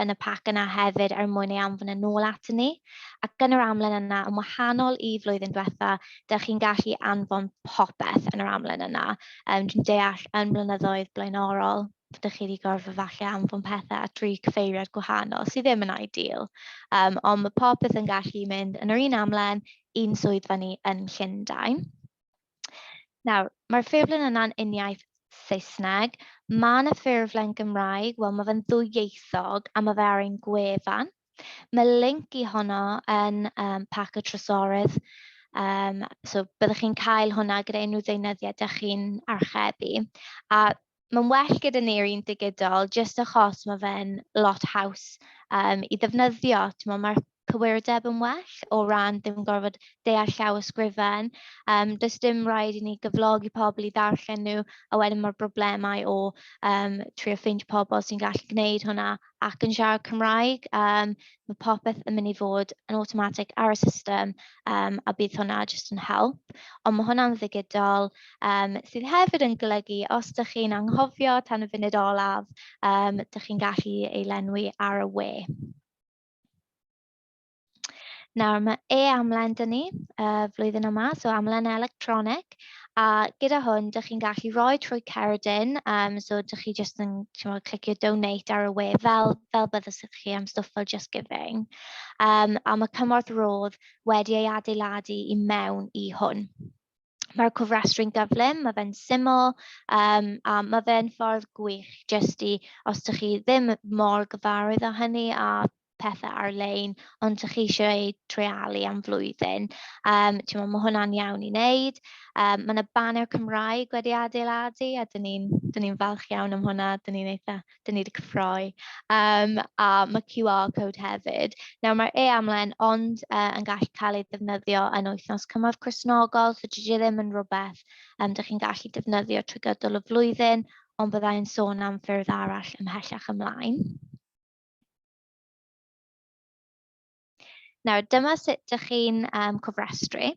yn y pac yna hefyd er mwyn ei anfon yn ôl atyn ni. Ac yn yr amlen yna, yn wahanol i flwyddyn diwetha, dych chi'n gallu anfon popeth yn yr amlen yna. Um, dwi'n deall yn blynyddoedd blaenorol, dych chi wedi gorfod falle anfon pethau at dri cyfeiriad gwahanol sydd ddim yn ideal. Um, ond mae popeth yn gallu mynd yn yr un amlen i'n swyddfa ni yn Llundain. Nawr, mae'r ffurflen yna'n uniaith Saesneg. Mae yna ffurflen Gymraeg, wel mae fe'n ddwyieithog a mae fe ar ein gwefan. Mae link i honno yn um, pac y trysorydd. Um, so byddwch chi'n cael hwnna gyda unrhyw ddeunyddiau da chi'n archebu. A mae'n well gyda ni'r un digidol jyst achos ma' fe'n lot haws yym i ddefnyddio, timod ma'r cywirdeb yn well o ran ddim yn gorfod deall llawysgrifen. Yym does dim raid i ni gyflogi pobl i ddarllen nhw a wedyn ma'r broblemau o yym trio ffeindio pobl sy'n gallu gwneud hwnna ac yn siarad Cymraeg, yym ma' popeth yn mynd i fod yn awtomatig ar y system, yym a bydd hwnna jyst yn help. Ond ma' hwnna'n ddigidol, yym sydd hefyd yn golygu os dach chi'n anghofio tan y funud olaf, yym dach chi'n gallu ei lenwi ar y we. Nawr, mae e-amlen dyn ni uh, flwyddyn yma, so amlen electronig, a gyda hwn, dych chi'n gallu rhoi trwy Ceridin, um, so dych chi jyst yn chymod, clicio donate ar y we, fel, fel byddwch chi am stwff fel Just Giving. Um, a mae cymorth rodd wedi ei adeiladu i mewn i hwn. Mae'r cofrestru'n gyflym, mae fe'n syml um, a mae fe'n ffordd gwych jyst i, os ydych chi ddim mor gyfarwydd â hynny a pethau ar-lein, ond ydych chi eisiau ei treialu am flwyddyn. Um, ti'n meddwl, mae hwnna'n iawn i wneud. Um, mae yna banner Cymraeg wedi adeiladu a dyn ni'n ni, ni falch iawn am hwnna, dyn ni'n eitha dan ni 'di cyffroi yym a ma' QR code hefyd. Nawr mae'r e-amlen ond uh, yn gallu cael ei ddefnyddio yn wythnos cymorth Cresnogol, so dydy e ddim yn rhywbeth um, dych chi'n gallu defnyddio trwy gydol y flwyddyn, ond byddai'n sôn am ffyrdd arall ymhellach ymlaen. Nawr, dyma sut dych chi'n um, cofrestru.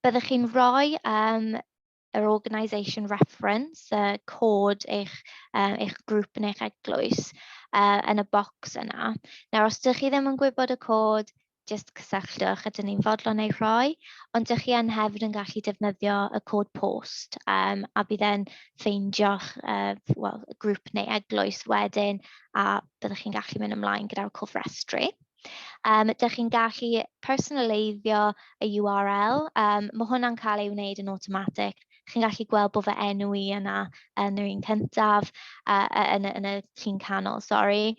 Byddwch chi'n rhoi um, yr organisation reference, y uh, cod eich, uh, eich grŵp neu'ch eglwys uh, yn y bocs yna. Nawr, os ydych chi ddim yn gwybod y cod, jyst cysylltwch a dyn ni'n fodlon ei rhoi, ond ydych chi yn hefyd yn gallu defnyddio y cod post um, a bydd e'n ffeindio'ch uh, well, grŵp neu eglwys wedyn a byddwch chi'n gallu mynd ymlaen gyda'r cofrestru. Um, dych chi'n gallu personaleiddio y URL. Um, mae hwnna'n cael ei wneud yn automatic. Chi'n gallu gweld bod fy enw i yna yn yr un cyntaf, uh, yn, yn y llun canol, sori.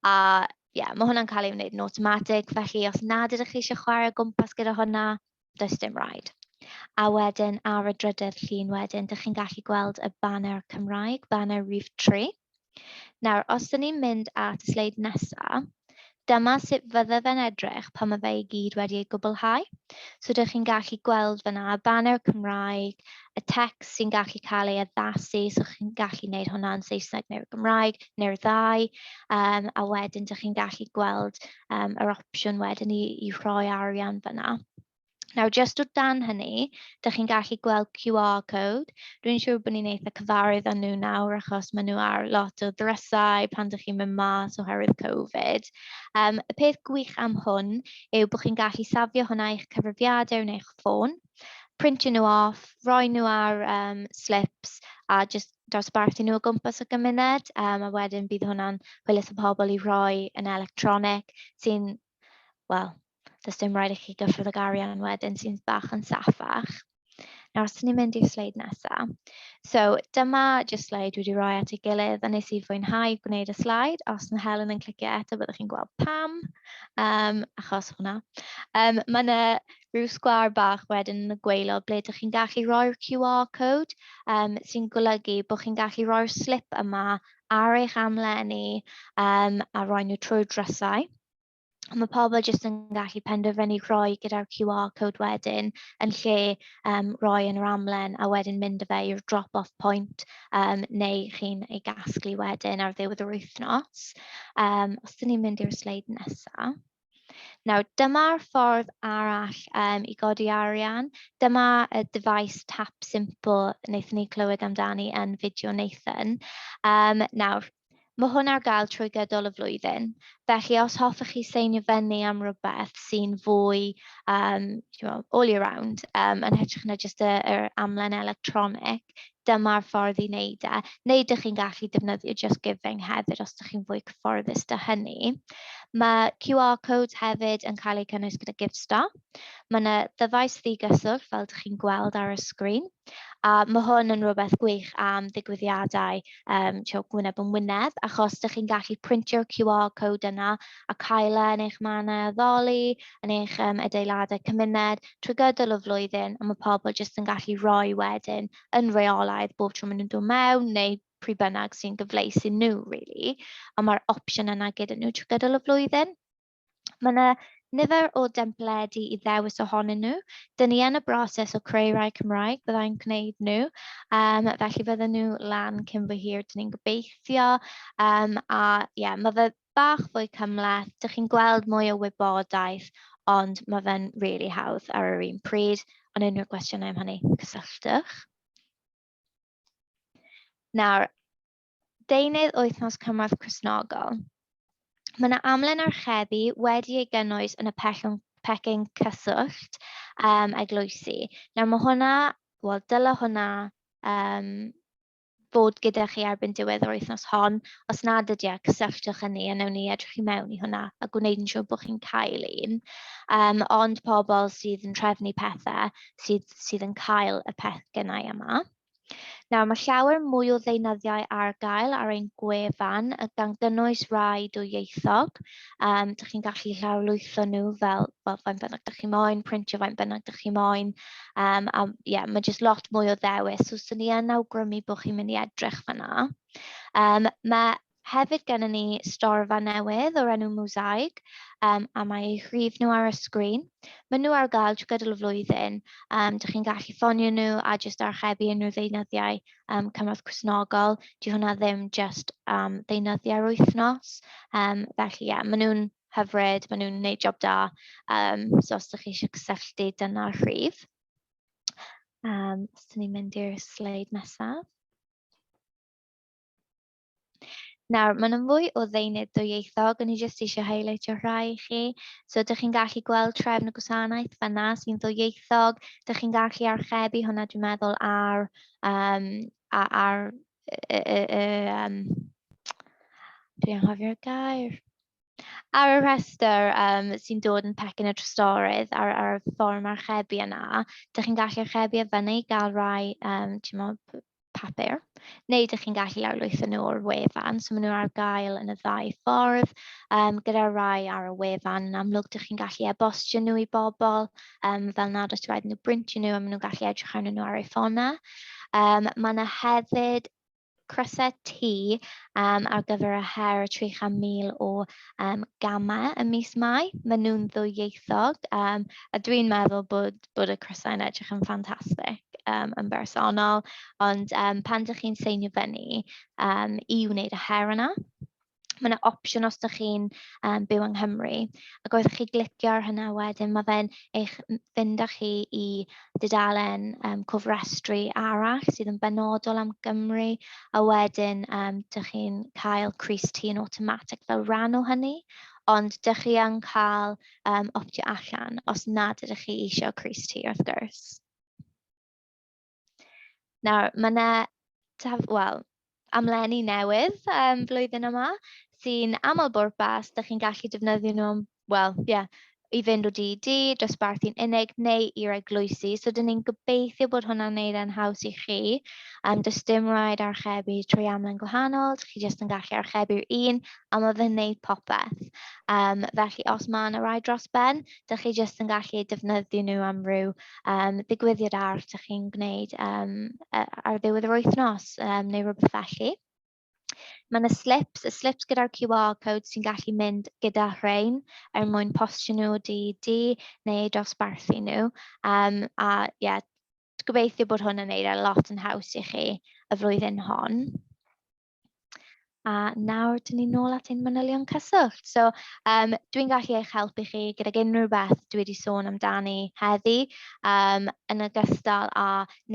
A ie, yeah, mae hwnna'n cael ei wneud yn automatic, felly os nad ydych chi eisiau chwarae gwmpas gyda hwnna, does dim rhaid. A wedyn ar y drydedd llun wedyn, dych chi'n gallu gweld y banner Cymraeg, banner Rhif 3. Nawr, os dyn ni'n mynd at y sleid nesaf, Dyma sut fydde fe'n edrych pan mae fe i gyd wedi ei gwblhau. So dych chi'n gallu gweld fyna y banner Cymraeg, y text sy'n gallu cael ei addasu, so chi'n gallu gwneud hwnna'n Saesneg neu'r Gymraeg, neu'r ddau, um, a wedyn dych chi'n gallu gweld um, yr opsiwn wedyn i, i rhoi arian fyna. Nawr, jyst o dan hynny, dych chi'n gallu gweld QR code. Dwi'n siŵr bod ni'n eitha cyfarwydd â nhw nawr achos maen nhw ar lot o ddrysau pan dych chi'n mynd mas oherwydd Covid. Um, y peth gwych am hwn yw bod chi'n gallu safio hwnna i'ch cyfrifiadur neu eich ffôn, printio nhw off, roi nhw ar um, slips a just dosbarthu nhw o gwmpas y gymuned, um, a wedyn bydd hwnna'n hwylus y pobl i roi yn electronig sy'n, wel, does dim rhaid i chi gyffrodd y garian wedyn sy'n bach yn saffach. Nawr, os ni'n mynd i'r sleid nesaf. So, dyma jyst sleid wedi rhoi at ei gilydd, a nes i fwynhau gwneud y sleid. Os mae Helen yn clicio eto, byddwch chi'n gweld pam, um, achos hwnna. Um, mae yna rhyw sgwâr bach wedyn yn y gwaelod ble dych chi'n gallu rhoi'r QR code um, sy'n golygu bod chi'n gallu rhoi'r slip yma ar eich amlenni um, a rhoi nhw trwy'r drysau. Mae pobl jyst yn gallu penderfynu rhoi gyda'r QR code wedyn yn lle um, rhoi yn yr amlen a wedyn mynd y fe i'r drop-off point um, neu chi'n ei gasglu wedyn ar ddiwedd yr wythnos. Um, os dyn ni'n mynd i'r sleid nesaf. Nawr, dyma'r ffordd arall um, i godi arian. Dyma y device tap simple wnaethon ni clywed amdani yn fideo Nathan. Um, nawr, mae hwn ar gael trwy gydol y flwyddyn. Felly, os hoffech chi seinio fyny am rhywbeth sy'n fwy um, all year round, um, yn hytrach na jyst yr amlen electronig, dyma'r ffordd i wneud e, neu dych chi'n gallu defnyddio Just Giving hefyd os ydych chi'n fwy cyfforddus da hynny. Mae QR codes hefyd yn cael eu cynnwys gyda GiveStar. Mae yna ddyfais ddigyswllt fel ydych chi'n gweld ar y sgrin, a mae hwn yn rhywbeth gwych am ddigwyddiadau um, gwyneb yn wyneb, achos ydych chi'n gallu printio'r QR code yna a cael e yn eich mannau addoli, yn eich um, adeiladau cymuned, trwy gydol y flwyddyn, a mae pobl jyst yn gallu rhoi wedyn yn reolaidd bob tro maen nhw'n dod mewn, neu pryd bynnag sy'n gyfleus i nhw, really. A mae'r opsiwn yna gyda nhw trwy gydol y flwyddyn. Mae yna nifer o dempledu i ddewis ohonyn nhw. Dyn ni yn y broses o creu rai Cymraeg, byddai'n gwneud nhw. Um, felly fydden nhw lan cyn fwy hir, dyn ni'n gobeithio. Um, a ie, yeah, mae fe bach fwy cymhleth, dych chi'n gweld mwy o wybodaeth, ond mae fe'n rili really hawdd ar yr un pryd. Ond unrhyw gwestiynau am hynny, cysylltwch. Nawr, deunydd wythnos cymorth Cresnogol. Mae yna amlen archebu wedi ei gynnwys yn y pellwng pecyn cyswllt um, eglwysi. Nawr mae hwnna, wel dyla hwnna um, fod gyda chi erbyn diwedd yr wythnos hon. Os nad ydy e, cysylltwch â ni a newn ni edrych i mewn i hwnna a gwneud yn siŵr bod chi'n cael un. Um, ond pobl sydd yn trefnu pethau sydd, sydd yn cael y peth gennau yma. Nawr, mae llawer mwy o ddeunyddiau ar gael ar ein gwefan, gan gynnwys rai dwyieithog. Um, dych chi'n gallu llawrlwytho nhw fel, fel fain bynnag dych chi'n moyn, printio fain bynnag dych chi'n moyn. Um, a yeah, mae jyst lot mwy o ddewis. So, sy'n ni yn awgrymu bod chi'n mynd i edrych fanna. Um, mae hefyd gennym ni storfa newydd o'r enw Mosaic, um, a mae eu rhif nhw ar y sgrin. Mae nhw ar gael trwy gydol y flwyddyn. Um, dych chi'n gallu ffonio nhw a jyst archebu unrhyw ddeunyddiau um, cymorth cwsnogol, di hwnna ddim just am um, ddeunyddiau'r wythnos. Um, felly, ie, yeah, maen nhw'n hyfryd, maen nhw'n gwneud job da. Um, so, os ydych chi eisiau cysylltu, dyna'r rhif. Um, os ydych chi'n mynd i'r sleid nesaf. Nawr, maen nhw'n fwy o ddeunydd dwyieithog, o'n i jyst eisiau highlightio rhai i chi. So, ydych chi'n gallu gweld trefn y gwasanaeth fanna sy'n ddwyieithog, ydych chi'n gallu archebu hwnna, dwi'n meddwl, ar, um, ar, ar y, y, y, um, dwi'n anghofio'r gair ar y rhestr um, sy'n dod yn pecyn y trystorydd ar, ar y fforwm archebu yna, dych chi'n gallu archebu a fyny i gael rhai um, papur, neu dych chi'n gallu lawrlwytho nhw o'r wefan. So maen nhw ar gael yn y ddau ffordd, um, gyda rai ar y wefan. Yn amlwg, dych chi'n gallu e-bostio nhw i bobl, um, fel nad oes rhaid nhw brintio nhw a maen nhw'n gallu edrych arnyn nhw ar eu ffonau. Um, mae yna hefyd crysau T um, ar gyfer y her y 300,000 o um, gamau y mis Mai. Maen nhw'n ddwyieithog um, a dwi'n meddwl bod bod y crysau yn edrych yn ffantastig yym yn bersonol, ond yym pan dach chi'n seinio fyny yym i wneud y her yna, mae yna opsiwn os dach chi'n yym byw yng Nghymru, ac wrth i chi glicio ar hynna wedyn, mae fe'n eich m- fynd â chi i dudalen yym cofrestru arall sydd yn benodol am Gymru, a wedyn yym dach chi'n cael crys-t yn awtomatig fel rhan o hynny, ond dach chi yn cael... yym optio allan os nad ydych chi eisiau crys ti wrth gwrs. Nawr, mae yna, wel, amlenni newydd um, flwyddyn yma sy'n aml bwrpas, da chi'n gallu defnyddio nhw, wel, ie, yeah, i fynd o DD, dosbarthu'n unig neu i'r eglwysi. So, dyn ni'n gobeithio bod hwnna'n neud e'n haws i chi. Um, does dim rhaid archebu trwy amlen gwahanol, chi jyst yn gallu archebu'r un a mae fe'n wneud popeth. Um, felly os mae yna rai dros ben, dych chi jyst yn gallu defnyddio nhw am ryw um, ddigwyddiad arall dych chi'n gwneud um, ar ddiwedd yr wythnos um, neu rhywbeth felly. Mae yna slips, y slips gyda'r QR code sy'n gallu mynd gyda rhain er mwyn postio nhw di di neu dosbarthu nhw. Um, a ie, yeah, gobeithio bod hwn yn neud e lot yn haws i chi y flwyddyn hon. A nawr, dyn ni'n nôl at ein manylion cyswllt. So, um, dwi'n gallu eich helpu chi gydag unrhyw beth dwi wedi sôn amdani heddi, um, yn ogystal â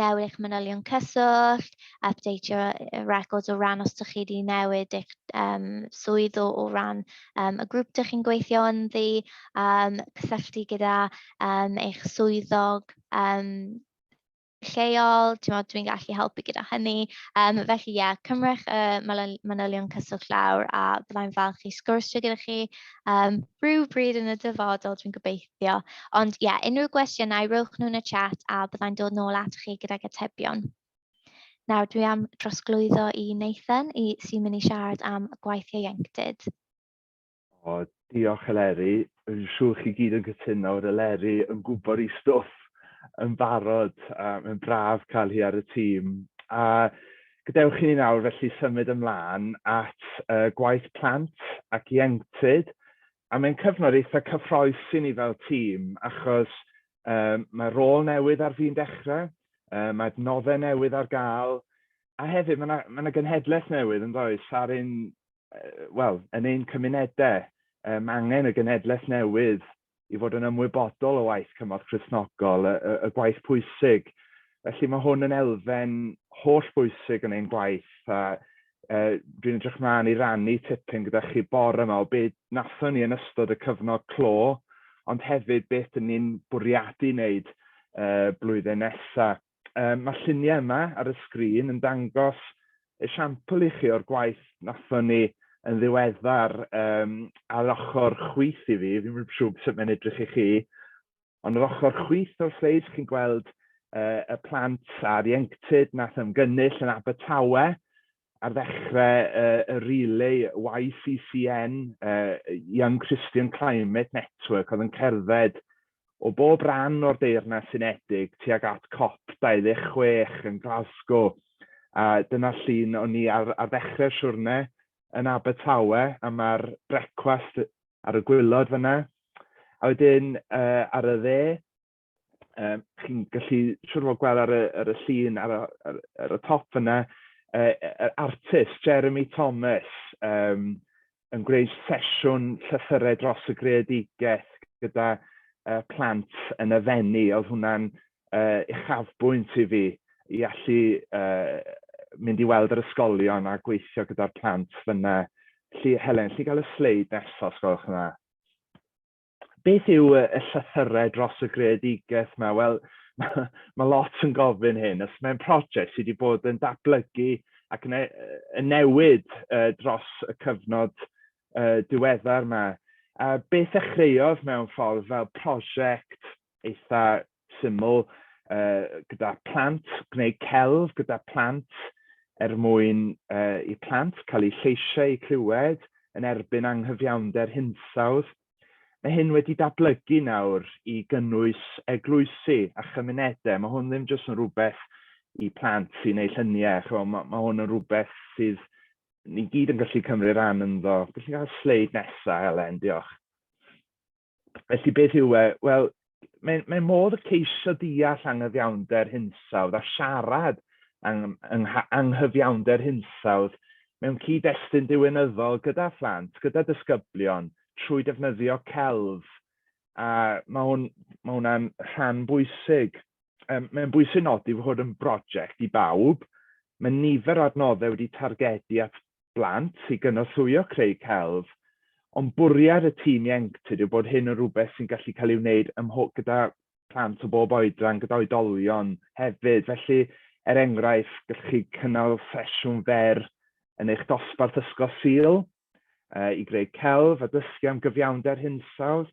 newid eich manylion cyswllt, updateio y records o ran os ydych chi wedi newid eich um, swydd o, o ran um, y grŵp ydych chi'n gweithio ynddi, um, cysylltu gyda um, eich swyddog um, lleol, timod, dwi'n gallu helpu gyda hynny. Um, felly, ie, yeah, cymrech y uh, manylion cyswllt lawr a byddai'n falch i sgwrsio gyda chi um, rhyw bryd yn y dyfodol, dwi'n gobeithio. Ond, ie, yeah, unrhyw gwestiynau, rhywch nhw'n y chat a byddai'n dod nôl at chi gyda'r atebion. Nawr, dwi am drosglwyddo i Nathan i sy'n mynd i siarad am gwaith ieuenctid. O, diolch Eleri. Yn siŵr chi gyd yn cytuno o'r Eleri yn gwybod i stwff yn barod. Uh, mae'n braf cael hi ar y tîm. A gadewch chi ni nawr felly symud ymlaen at uh, gwaith plant ac ieuenctid. A mae'n cyfnod eitha cyffroes i ni fel tîm achos uh, mae rôl newydd ar fi'n dechrau, uh, mae adnoddau newydd ar gael, a hefyd mae yna, mae yna genhedlaeth newydd yn does ar ein wel, yn ein cymunedau, um, angen y genedlaeth newydd i fod yn ymwybodol o waith cymorth Christnogol, y, y, y gwaith pwysig. Felly mae hwn yn elfen holl bwysig yn ein gwaith a uh, dwi'n edrych mlaen i rannu tipyn gyda chi bor yma o beth nathon ni yn ystod y cyfnod clo, ond hefyd beth ni'n bwriadu wneud uh, blwyddyn nesaf. Um, mae lluniau yma ar y sgrin yn dangos esiampl i chi o'r gwaith nathon ni yn ddiweddar um, ar ochr chwyth i fi, fi'n mynd siŵr sut mae'n edrych i chi, ond ar ochr chwyth o'r sleid chi'n gweld uh, y plant a'r ieuenctid nath ymgynnull yn Abertawe, ar ddechrau y relay YCCN, Young Christian Climate Network, oedd yn cerdded o bob rhan o'r Deyrnas Unedig tuag at COP26 yn Glasgow. A dyna llun o'n ni ar, ar ddechrau'r siwrne yn Abertawe, a mae'r brecwast ar y gwylod fyna. A wedyn uh, ar y dde, um, chi'n gallu siwr fod gweld ar y, ar y llun ar, ar, ar y top yna, uh, yr artist Jeremy Thomas um, yn gwneud sesiwn llythyrau dros y greadigaeth gyda uh, plant yn y fenni. Oedd hwnna'n uh, uchafbwynt i fi i allu uh, mynd i weld yr ysgolion a gweithio gyda'r plant fyna. Lly, Helen, lli gael y sleid nesaf, os gwelwch yna. beth yw y, y llythyrau dros y greadigaeth yma? Wel, mae ma lot yn gofyn hyn. Os mae'n prosiect sydd wedi bod yn datblygu ac yn, e-, yn newid uh, dros y cyfnod uh, diweddar yma, a beth ddechreuodd mewn ffordd fel prosiect eitha syml uh, gyda plant, gwneud celf gyda plant er mwyn uh, i plant cael eu lleisiau eu clywed yn erbyn anghyfiawnder hinsawdd. Mae hyn wedi datblygu nawr i gynnwys eglwysi a chymunedau. Mae hwn ddim jyst yn rhywbeth i plant sy'n ei lluniau. Chwa, mae, mae hwn yn rhywbeth sydd ni gyd yn gallu cymryd rhan ynddo. Felly cael sleid nesaf, Helen, diolch. Felly beth yw e? Wel, mae'n mae modd y ceisio deall anghyfiawnder hinsawdd a siarad ang, ang, anghyfiawnder hinsawdd mewn cyd-destun diwynyddol gyda phlant, gyda disgyblion, trwy defnyddio celf. A mae hwn, mae hwnna'n rhan bwysig. Um, mae'n bwysig nodi fod yn brosiect i bawb. Mae nifer o adnoddau wedi targedu at blant i gynorthwyo creu celf, ond bwriad y tîm ieuenctid yw bod hyn yn rhywbeth sy'n gallu cael ei wneud ym mhob, gyda plant o bob oedran, gyda oedolion hefyd. Felly, er enghraifft, gallwch chi cynnal sesiwn fer yn eich dosbarth Ysgol Sul uh, i greu celf a dysgu am gyfiawnder hinsawdd.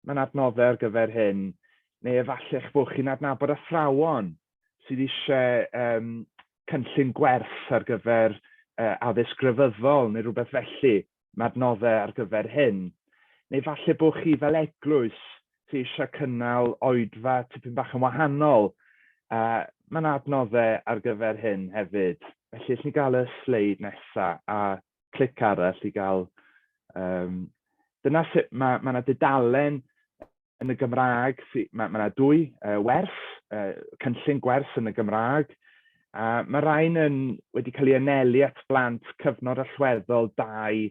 Mae'n adnoddau ar gyfer hyn. Neu efallai eich bod chi'n adnabod athrawon sydd eisiau um, cynllun gwerth ar gyfer uh, addysg grefyddol neu rhywbeth felly, mae adnoddau ar gyfer hyn. Neu falle bod chi fel eglwys sydd eisiau cynnal oedfa tipyn bach yn wahanol. Uh, mae yna adnoddau ar gyfer hyn hefyd. Felly, allwn ni gael y sleid nesaf a clic arall i gael... Um, dyna sut mae, mae yna dudalen yn y Gymraeg, mae yna ma dwy uh, werth, uh, cynllun gwers yn y Gymraeg, a mae rhain yn, wedi cael ei anelu at blant cyfnod allweddol 2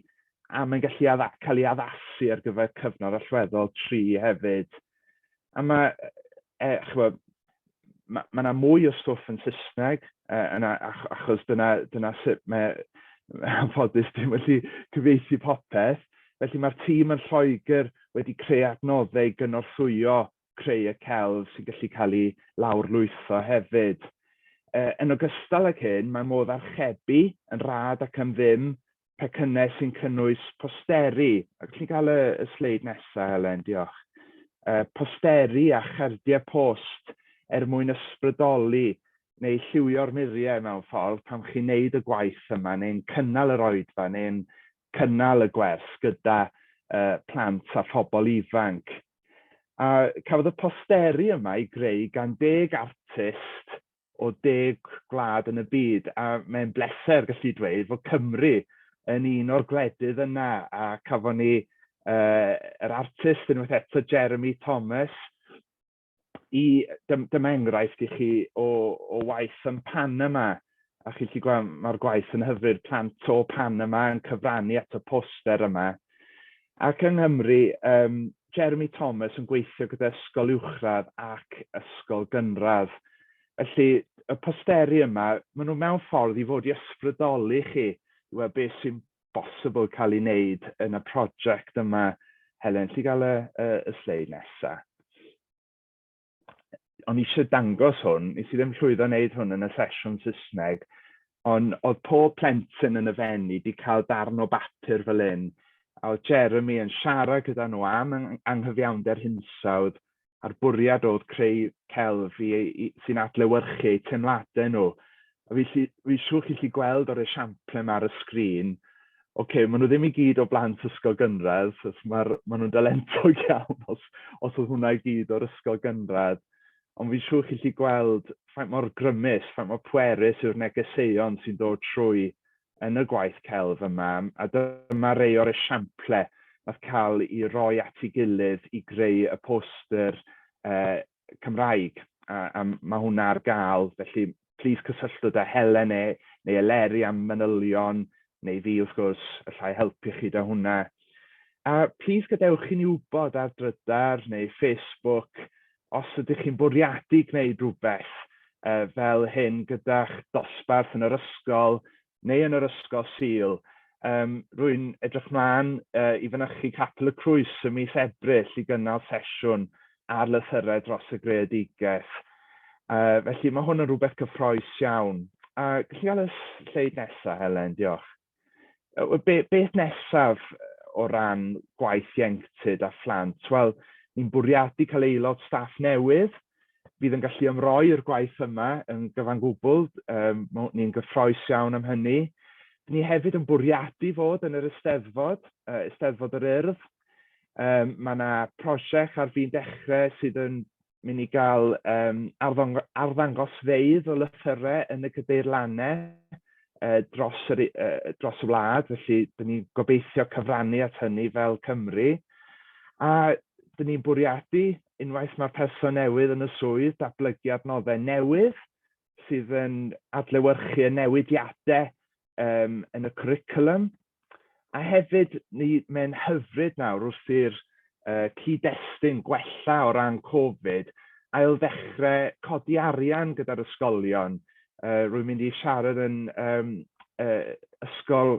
a mae'n gallu adda, cael ei addasu ar gyfer cyfnod allweddol 3 hefyd. A mae, e, chwa, ma' ma' 'na mwy o stwff yn Saesneg yy yn a- ach- achos dyna dyna sut mae anffodus dim yn gallu cyfieithu popeth. Felly mae'r tîm yn Lloegr wedi creu adnoddau i gynorthwyo creu y celf sy'n gallu cael ei lawrlwytho hefyd. Yy yn ogystal ag hyn, mae modd archebu yn rhad ac am ddim pecynnau sy'n cynnwys posteri, ac chi'n cael y, y sleid nesaf, Helen, diolch, uh, posteri a chardiau post er mwyn ysbrydoli neu lliwio'r muriau mewn ffordd pan chi'n neud y gwaith yma neu'n cynnal yr oedfa neu'n cynnal y gwers gyda uh, plant a phobl ifanc. A cafodd y posteri yma i greu gan deg artist o deg gwlad yn y byd, a mae'n bleser gallu dweud fod Cymru yn un o'r gwledydd yna, a cafon ni uh, yr artist unwaith eto, Jeremy Thomas, i, dyma enghraifft i chi o, o waith yn Panama, a chi'n chi gweld mae'r gwaith yn hyfryd, plant o Panama yn cyfrannu at y poster yma. Ac yng Nghymru, yym, Jeremy Thomas yn gweithio gyda ysgol uwchradd ac ysgol gynradd. Felly, y posteri yma, maen nhw mewn ffordd i fod i ysbrydoli chi i weld beth sy'n bosibl cael ei wneud yn y prosiect yma. Helen, alli gael y, y, y sleid nesaf? o'n i eisiau dangos hwn, nes i ddim llwyddo wneud hwn yn y sesiwn Saesneg, ond oedd pob plentyn yn y fenni wedi cael darn o bapur fel hyn, a oedd Jeremy yn siarad gyda nhw am anghyfiawnder hinsawdd a'r bwriad oedd creu celf sy'n adlewyrchu eu teimladau nhw. A felly, fi'n siŵr chi'n gallu gweld o'r esiamplau yma ar y sgrin, ocê, maen nhw ddim i gyd o blant ysgol gynradd, so ma'r, maen nhw'n dalentog iawn os, os oedd hwnna i gyd o'r ysgol gynradd. Ond fi'n siŵr chi'n gallu gweld faint mor grymus, faint mor pwerus yw'r negeseuon sy'n dod trwy yn y gwaith celf yma, a dyma rei o'r esiamplau wnaeth cael i roi at ei gilydd i greu y poster uh, Cymraeg, a, a mae hwnna ar gael, felly plis cysylltwch â Helen neu, neu Eleri am manylion, neu fi wrth gwrs, allai helpu chi da hwnna. A plis gadewch chi ni wybod ar drydar neu Facebook os ydych chi'n bwriadu gwneud rhywbeth uh, fel hyn gyda'ch dosbarth yn yr ysgol neu yn yr ysgol Sul. Yym, rwy'n edrych mlaen uh, i fynychu Capel y Crwys y mis Ebrill i gynnal sesiwn ar lythyrau dros y greadigaeth. Uh, felly mae hwn yn rhywbeth cyffroes iawn. A gallu gael y sleid nesaf, Helen, diolch. Uh, be, beth nesaf o ran gwaith ieuenctid a phlant? Wel, ni'n bwriadu cael aelod staff newydd, fydd yn gallu ymroi'r gwaith yma yn gyfan gwbl, um, ni'n gyffroes iawn am hynny. Ni hefyd yn bwriadu fod yn yr Eisteddfod, uh, Eisteddfod yr Urdd. Um, mae yna prosiect ar fi'n dechrau sydd yn mynd i gael um, arddangosfeydd o lythyrau yn y gydeirlannau uh, dros, yr, uh, dros y wlad, felly dyn ni'n gobeithio cyfrannu at hynny fel Cymru. A dyn ni'n bwriadu Unwaith mae'r person newydd yn y swydd, datblygu adnoddau newydd sydd yn adlewyrchu y newidiadau um, yn y cwricwlwm. A hefyd, ni, mae'n hyfryd nawr wrth i'r uh, cyd-destun gwella o ran Covid, ail ddechrau codi arian gyda'r ysgolion. Uh, rwy'n mynd i siarad yn um, uh, ysgol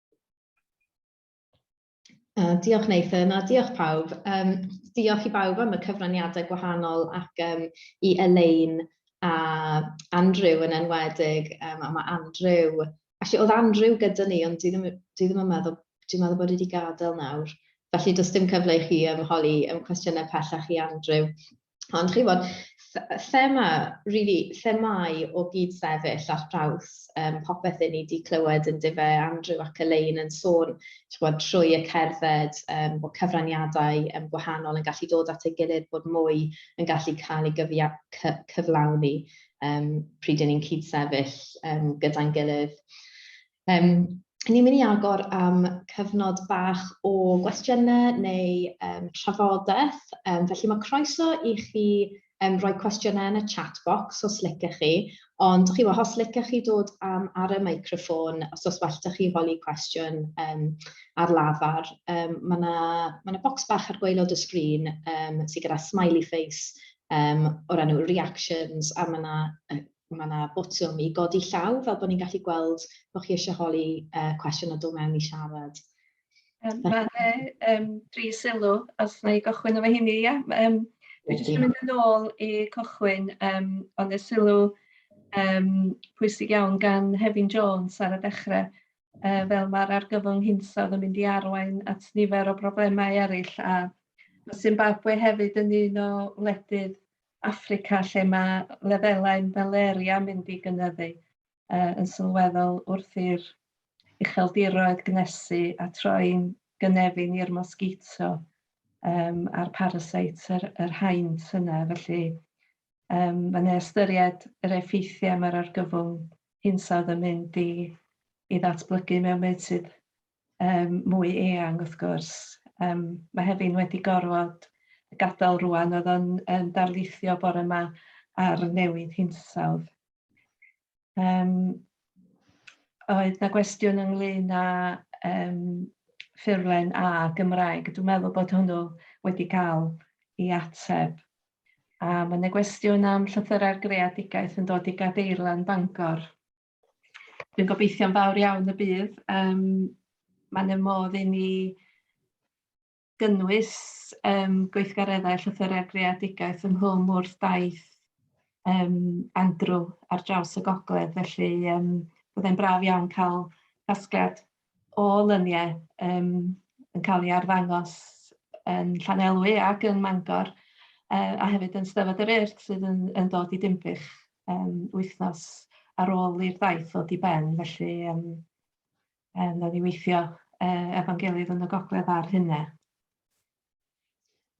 Uh, diolch Nathan a diolch pawb. Um, diolch i bawb am y cyfraniadau gwahanol ac um, i Elaine a Andrew yn enwedig. Um, a mae Andrew... Actually, oedd Andrew gyda ni, ond dwi ddim, dwi ddim yn meddwl, dwi'n meddwl bod wedi gadael nawr. Felly, does dim cyfle i chi ymholi ym cwestiynau pellach i Andrew. Ond chi'n bod, thema, really, themau o gyd sefyll ar draws um, popeth i ni wedi clywed yn dife Andrew ac Elaine yn sôn bod, trwy y cerdded um, bod cyfraniadau um, gwahanol yn gallu dod at ei gilydd, bod mwy yn gallu cael ei gyfia, cy, cyflawni um, pryd yn ni'n cyd sefyll um, gyda'n gilydd. Yym, ni'n mynd i agor am cyfnod bach o gwestiynau neu um, trafodaeth, um, felly mae croeso i chi um, roi cwestiynau yn y chat box os licech chi, ond chi os licech chi dod am ar y microffon, os os well da chi holi cwestiwn um, ar lafar, um, mae yna ma na bocs bach ar gwaelod y sgrin um, sydd gyda smiley face um, o'r enw reactions, a mae yna Mae yna botwm i godi llaw fel bod ni'n gallu gweld bod chi eisiau holi cwestiwn a dod mewn i siarad. Mae yna dri sylw, os na i gychwyn efo hynny, ia? Dwi jyst yn mynd yn ôl i cychwyn, ond y sylw pwysig iawn gan Hefin Jones ar y dechrau, fel mae'r argyfwng hinsawdd yn mynd i arwain at nifer o broblemau eraill, a Zimbabwe hefyd yn un o wledydd Affrica lle mae lefelau malaria mynd i gynyddu yn sylweddol wrth i'r ucheldiroedd gnesu a troi'n gynefin i'r mosgito a'r parasites, yr haint yna. Felly mae 'na ystyried yr effeithiau mae'r argyfwng hinsawdd yn mynd i ddatblygu mewn meysydd um, mwy eang wrth gwrs. Um, mae Hefin wedi gorfod gadael rwan, oedd o'n um, darlithio bore yma ar newid hinsawdd. Um, oedd na gwestiwn ynglyn â um, ffurlen A Gymraeg. Dwi'n meddwl bod hwnnw wedi cael ei ateb. A mae yna gwestiwn am llythyrau'r greadigaeth yn dod i gadeirlan Bangor. Dwi'n gobeithio'n fawr iawn y bydd. Um, Mae'n y modd i ni gynnwys um, gweithgareddau llythyrau greadigaeth yng Nghwm wrth daith um, Andrew ar draws y gogledd, felly um, byddai'n braf iawn cael casgliad o lyniau yym yn cael ei arddangos yn Llanelwy ac yn Mangor yy a hefyd yn Steddfod yr Urdd sydd yn yn dod i Dinbych yym wythnos ar ôl i'r daith ddod i ben, felly yym yym wnawn ni weithio yy efo'n gilydd yn y gogledd a'r hynaf.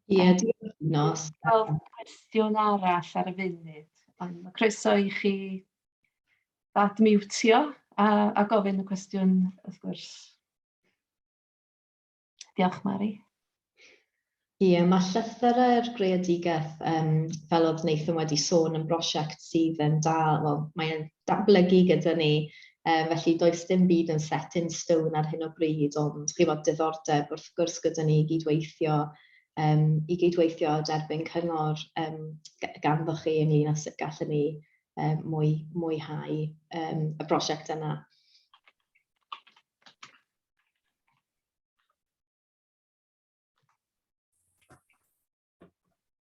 Ie, diolch Nos. Cael cwestiwn arall ar y funud. Ond mae croeso i chi bad miwtio a, a gofyn y cwestiwn, wrth gwrs. Diolch, Mari. Ie, mae llythyrau'r greadigaeth, um, fel oedd Nathan wedi sôn, yn brosiect sydd yn dal, wel, mae'n datblygu gyda ni Um, felly does dim byd yn set in stone ar hyn o bryd, ond chi fod diddordeb wrth gwrs gyda ni i gydweithio um, i gydweithio a derbyn cyngor um, ganddo chi ynglyn â sut gallwn ni um, mwy, mwyhau um, y prosiect yna.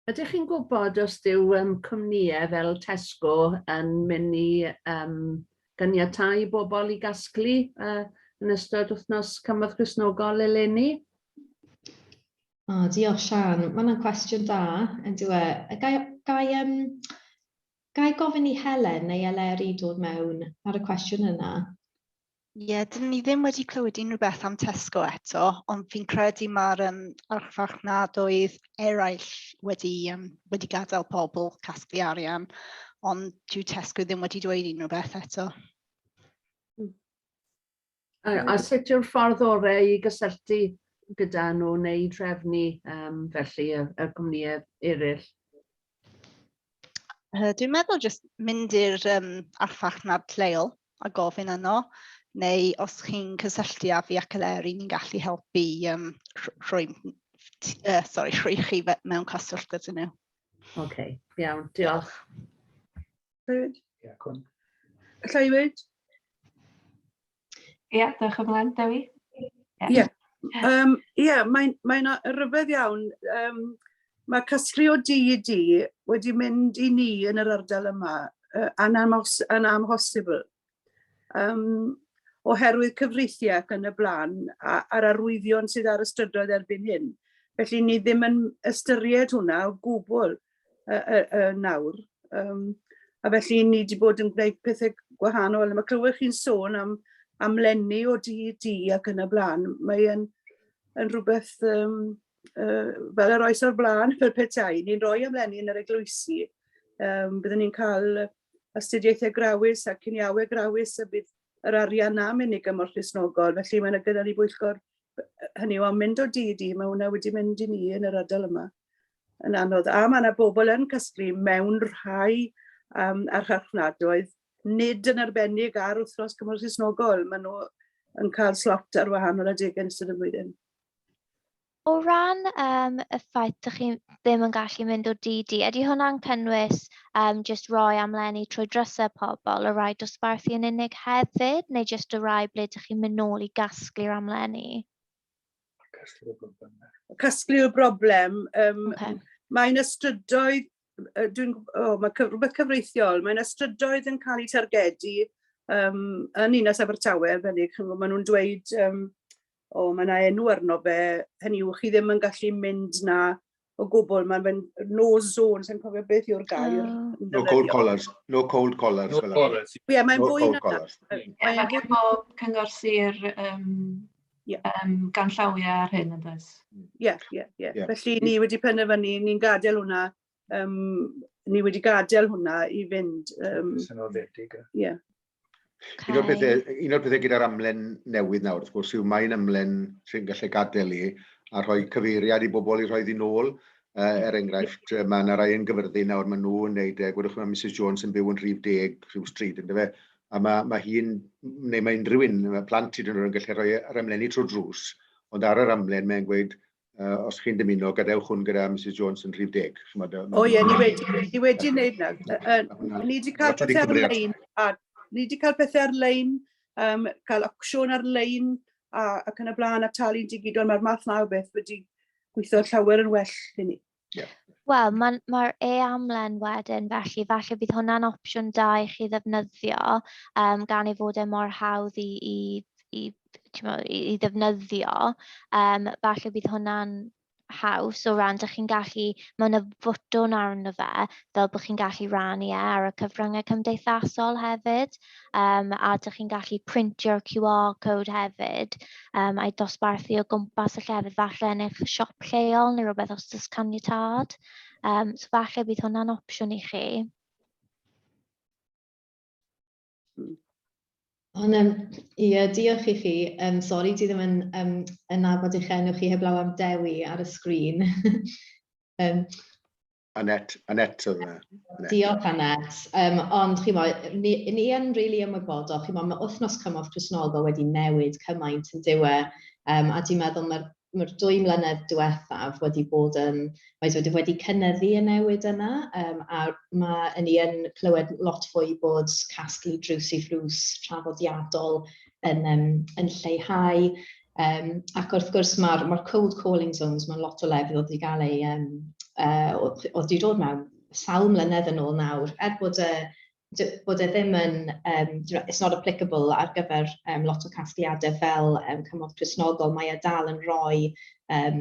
Ydych chi'n gwybod os dyw um, cwmnïau fel Tesco yn mynd i um, ganiatau bobl i gasglu uh, yn ystod wythnos cymorth Gristnogol eleni? O, diolch Sian. Mae yna'n cwestiwn da, yn diwe. Gai, gai, um, gai gofyn i Helen neu Eleri dod mewn ar y cwestiwn yna? Ie, yeah, dyn ni ddim wedi clywed unrhyw beth am Tesco eto, ond fi'n credu mae'r um, archfarchnadoedd eraill wedi, um, wedi gadael pobl casglu arian, ond dyw Tesco ddim wedi dweud unrhyw beth eto. A, a sut yw'r ffordd orau i gysylltu gyda nhw neu drefnu um, felly y, y gwmnïau eraill? Uh, dwi'n meddwl jyst mynd i'r um, archfarchnad lleol a gofyn yno, neu os chi'n cysylltu â fi ac Eleri, ni'n gallu helpu um, rhoi, uh, sorry, rhoi chi mewn cyswllt gyda nhw. Oce, okay, iawn, diolch. Llywyd? Ie, cwn. Llywyd? Ie, dewch ymlaen, Dewi. Ie, yeah. um, yeah, mae'n mae rhyfedd iawn. Um, mae casglu o di i di wedi mynd i ni yn yr ardal yma uh, yn, amos, yn amhosibl. Um, oherwydd cyfreithiau ac yn y blaen a'r arwyddion sydd ar y strydoedd erbyn hyn. Felly ni ddim yn ystyried hwnna o gwbl. yy yy yy nawr. Yym a felly ni 'di bod yn gwneud pethe gwahanol a ma' clywed chi'n sôn am am lenni o dŷ i dŷ ac yn y bla'n mae e'n yn rhywbeth yym yy fel yr oes o'r bla'n fel petai ni'n rhoi am lenni yn yr eglwysi yym byddwn ni'n cael astudiaethau grawys a ciniawe grawys a bydd yr arian na mynd i gymorth Cristnogol felly mae yna gyda ni bwyllgor hynny yw am mynd o dŷ i dŷ mae hwnna wedi mynd i ni yn yr ardal yma. Yn anodd. A ma' 'na bobol yn casglu mewn rhai yym archfarchnadoedd, nid yn arbennig ar wythnos cymorth Cristnogol, ma' nhw yn cael slot ar wahanol adegau yn ystod y flwyddyn. O ran um, y ffaith ydych chi ddim yn gallu mynd o dydd di, ydy hwnna'n cynnwys um, just roi amlenni trwy drysau pobl, y rai dosbarthu yn unig hefyd, neu just y rai ble ydych chi'n mynd nôl i gasglu'r amlenni? Casglu'r broblem. Casglu'r broblem. Um, okay. Mae yna strydoedd, dwi'n, oh, mae cyf, rhywbeth cyfreithiol, mae yna strydoedd yn cael eu targedu um, yn Inas Abertawe, arbennig, maen nhw'n dweud, um, o, oh, mae yna enw arno fe, hynny yw, chi ddim yn gallu mynd na o gwbl, mae'n fe'n no zone, sy'n cofio beth yw'r gair. Ah. No cold collars, no cold collars. No collars. Ie, yeah, mae'n no fwy na... Ie, yeah, mae gen bob cyngor sir um, yeah. um, gan llawiau ar hyn, yn dweud. Ie, ie, ie. Felly ni wedi penderfynu, ni'n gadael hwnna, um, ni wedi gadael hwnna i fynd... Um, Sy'n oddedig. Ie. Yeah. Okay. Un o'r pethau, un o'r pethau gyda'r amlen newydd nawr, wrth gwrs, yw mae'n amlen sy'n gallu gadael i a rhoi cyfeiriad i bobl i rhoi ddyn ôl. Uh, er enghraifft, mae yna rai yn gyfyrddin nawr, mae nhw'n gwneud, e, gwedwch mae Mrs Jones yn byw yn rhif deg rhyw stryd, ynddo fe, a mae, mae hi'n, neu mae unrhyw un, mae plant hyd yn oed yn gallu rhoi yr amlenni trwy drws, ond ar yr amlen mae'n gweud, uh, os chi'n dymuno, gadewch hwn gyda Mrs Jones yn rhif deg. O ie, ni wedi, ni wedi wneud na. Ni wedi cael pethau ar-lein, a ni wedi cael pethau ar-lein, um, cael opsiwn ar-lein, ac yn y blaen, a talu'n digidol, mae'r math na o beth wedi gweithio llawer yn well i ni. Yeah. Wel, mae'r ma e-amlen wedyn, felly falle bydd hwnna'n opsiwn da i chi ddefnyddio, um, gan ei fod e mor hawdd i, i, i, mo, i, i ddefnyddio. Um, falle bydd hwnna'n haws o ran, ydych chi'n gallu, mae yna fotwn arno fe, fel bod chi'n gallu rannu e ar y cyfryngau cymdeithasol hefyd. um, a ydych chi'n gallu printio'r QR code hefyd um, a'i dosbarthu o gwmpas y llefydd falle yn eich siop lleol neu rhywbeth os ydych caniatad. Um, so falle bydd hwnna'n opsiwn i chi. Ond um, ie, diolch i chi. Um, sorry, ti ddim yn, um, yn nabod eich enw chi heblaw am Dewi ar y sgrin. um, Annette, Annette oedd yna. E. Diolch Annette. Um, ond chi'n mo, ni, ni yn rili really ymwybodol, chi'n mo, mae wythnos cymorth Crisnoldo wedi newid cymaint yn diwe, um, a dwi'n meddwl mae'r mae'r dwy mlynedd diwethaf wedi bod yn, mae wedi, wedi cynyddu y newid yna, um, a mae yn ni yn clywed lot fwy bod casglu drws i ffrws traddodiadol yn, um, yn lleihau. Um, ac wrth gwrs mae'r ma cold calling zones, mae'n lot o lefydd oedd wedi cael ei, um, uh, oedd wedi dod mewn sawl mlynedd yn ôl nawr, er bod y bod e ddim yn, um, it's not applicable ar gyfer um, lot o casgliadau fel um, cymorth presnogol, mae e dal yn rhoi, um,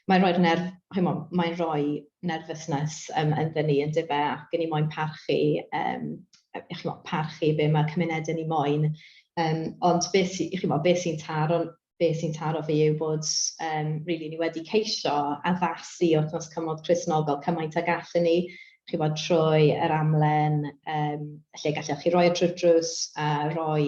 mae'n rhoi'r nerf, mae'n rhoi nerfusnes um, ynddyn ni yn dibe ac yn ni moyn parchu um, chimo, parchu be mae cymunedau ni moyn. Um, ond beth sy'n chi mo, beth sy'n taro, beth sy'n taro fi yw bod um, really, ni wedi ceisio addasu wrth nos cymod Cresnogol cymaint ag allan ni, chi mo, trwy yr amlen um, lle gallech chi roi y e trwy'r drws a roi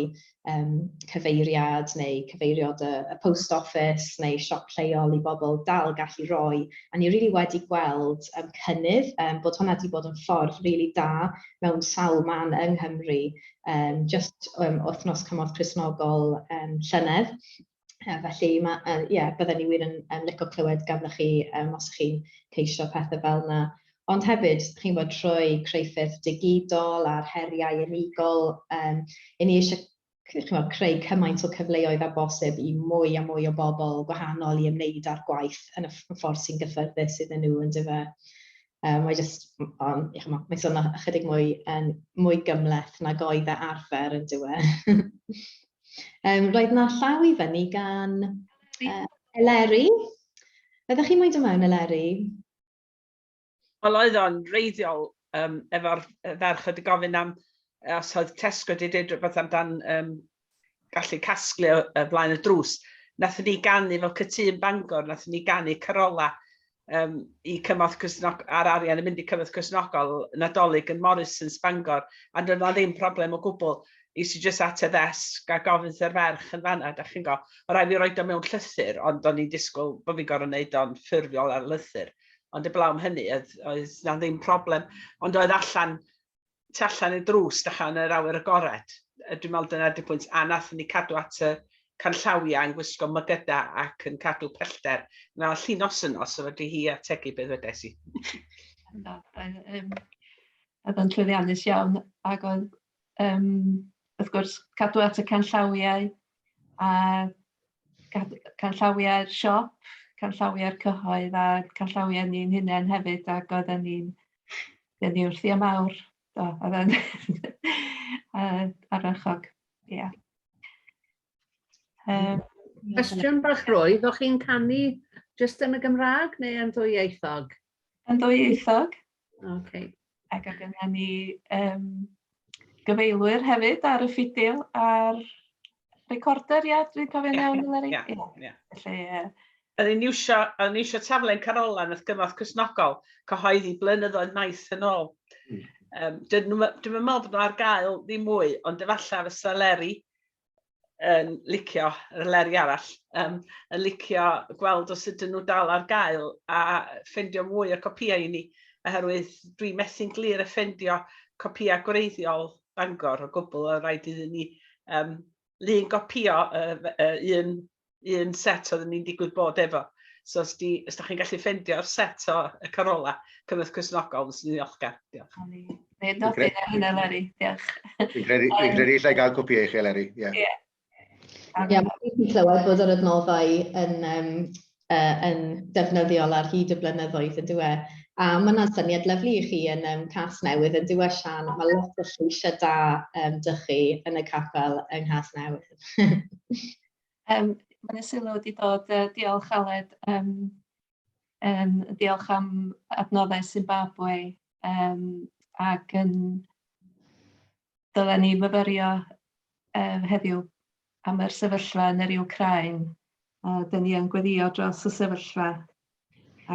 yym cyfeiriad neu cyfeiriod y y post office neu siop lleol i bobl dal gallu roi, a ni rili wedi gweld yym cynnydd, yym bod hwnna 'di bod yn ffordd rili da mewn sawl man yng Nghymru, yym jyst yym wythnos cymorth Cristnogol yym llynedd. Uh, felly, ma, uh, yeah, bydden ni wir yn, yn licio clywed ganddoch chi um, os chi'n ceisio pethau fel yna. Ond hefyd, chi'n bod trwy creuffyrdd digidol a'r heriau unigol, um, i ni eisiau chymod, creu cymaint o cyfleoedd a bosib i mwy a mwy o bobl gwahanol i ymwneud â'r gwaith yn y ffordd sy'n gyffyrddus iddyn nhw yn dyfa. Um, mae just, on, chymod, mae'n sôn ychydig mwy, um, mwy gymleth nag oedd e arfer yn dywe. Um, roedd yna llaw i fyny gan uh, Eleri. Ydych chi'n mynd ymlaen, Eleri? Wel, oedd o'n reiddiol um, efo'r ferch wedi gofyn am os oedd Tesco wedi dweud rhywbeth amdan um, gallu casglu o, o flaen y drws. Nath ni ganu fel cytun Bangor, nath ni ganu Carola. um, i cymorth cysnog ar arian yn mynd i cymorth cysnogol nadolig yn Morrison's Bangor a dyn nhw ddim problem o gwbl i si jyst at y ddesg a gofyn sy'r ferch yn fanna, da chi'n go. O rai fi roi do mewn llythyr, ond do'n i'n disgwyl bod fi'n gorau wneud o'n ffurfiol ar lythyr. Ond y blawn hynny, oedd, oedd na ddim problem. Ond oedd allan tu allan i'r drws dechrau yn yr awyr agored. Dwi'n meddwl dyna ydy pwynt. A nathon ni cadw at y canllawiau yn gwisgo mygyda ac yn cadw pellter. Mae o'n llun os yno, so fedri hi ategu beth ddwedais i. Na, um, oedd o'n llwyddiannus iawn, ac oedd, um, wrth gwrs, cadw at y canllawiau, a canllawiau'r siop, canllawiau'r cyhoedd a canllawiau ni'n hunain hefyd ac oedden ni'n denu wrthi am awr. Do, oedd e'n arachog. Ie. Um, Cwestiwn bach roedd, o'ch chi'n canu jyst yn y Gymraeg neu yn ddwyieithog? Yn ddwyieithog. Okay. Ac oedd yna ni um, gyfeilwyr hefyd ar y ffidil a'r recorder, ia, dwi'n cofio'n yeah, iawn, Leri? Ia, ia. Felly, ie. Yn ni'n iwsio, yn iwsio taflen Carolan wrth gyfoeth cysnogol, cyhoeddi blynyddoedd maith yn ôl. Mm. Um, dwi'n meddwl bod nhw ar gael ddim mwy, ond efallai fysa Leri yn licio, yr leri arall, um, yn licio gweld os ydyn nhw dal ar gael a ffendio mwy o copïau i ni, oherwydd dwi methu'n glir y ffendio copïau gwreiddiol Bangor o gwbl, o rhaid iddyn ni um, lun gopïo uh, uh, un un set oedden ni'n digwydd bod efo. So os, di, os da chi'n gallu ffendio'r set o y carola, cynnwys cysnogol, nes ni'n ddiolchgar. Diolch. Dwi'n nodyn ar hynna, Leri. Diolch. Dwi'n credu, dwi'n credu lle gael cwpi eich chi, Leri. Ie. Yeah. Ie, yeah, mae'n clywed bod yr adnoddau yn, um, uh, yn defnyddiol ar hyd y blynyddoedd yn dweud. E? A mae yna'n syniad lyflu i chi yn um, cas newydd yn dweud e, Sian. Mae lot o lleisiau da um, dych chi yn y capel yng Nghas Newydd. Yym mae 'na sylw 'di dod yy diolch Aled yym yym diolch am adnoddau Zimbabwe yym ac yn dylen ni fyfyrio yy heddiw am yr sefyllfa yn yr Wcráin a 'dyn ni yn gweddïo dros y sefyllfa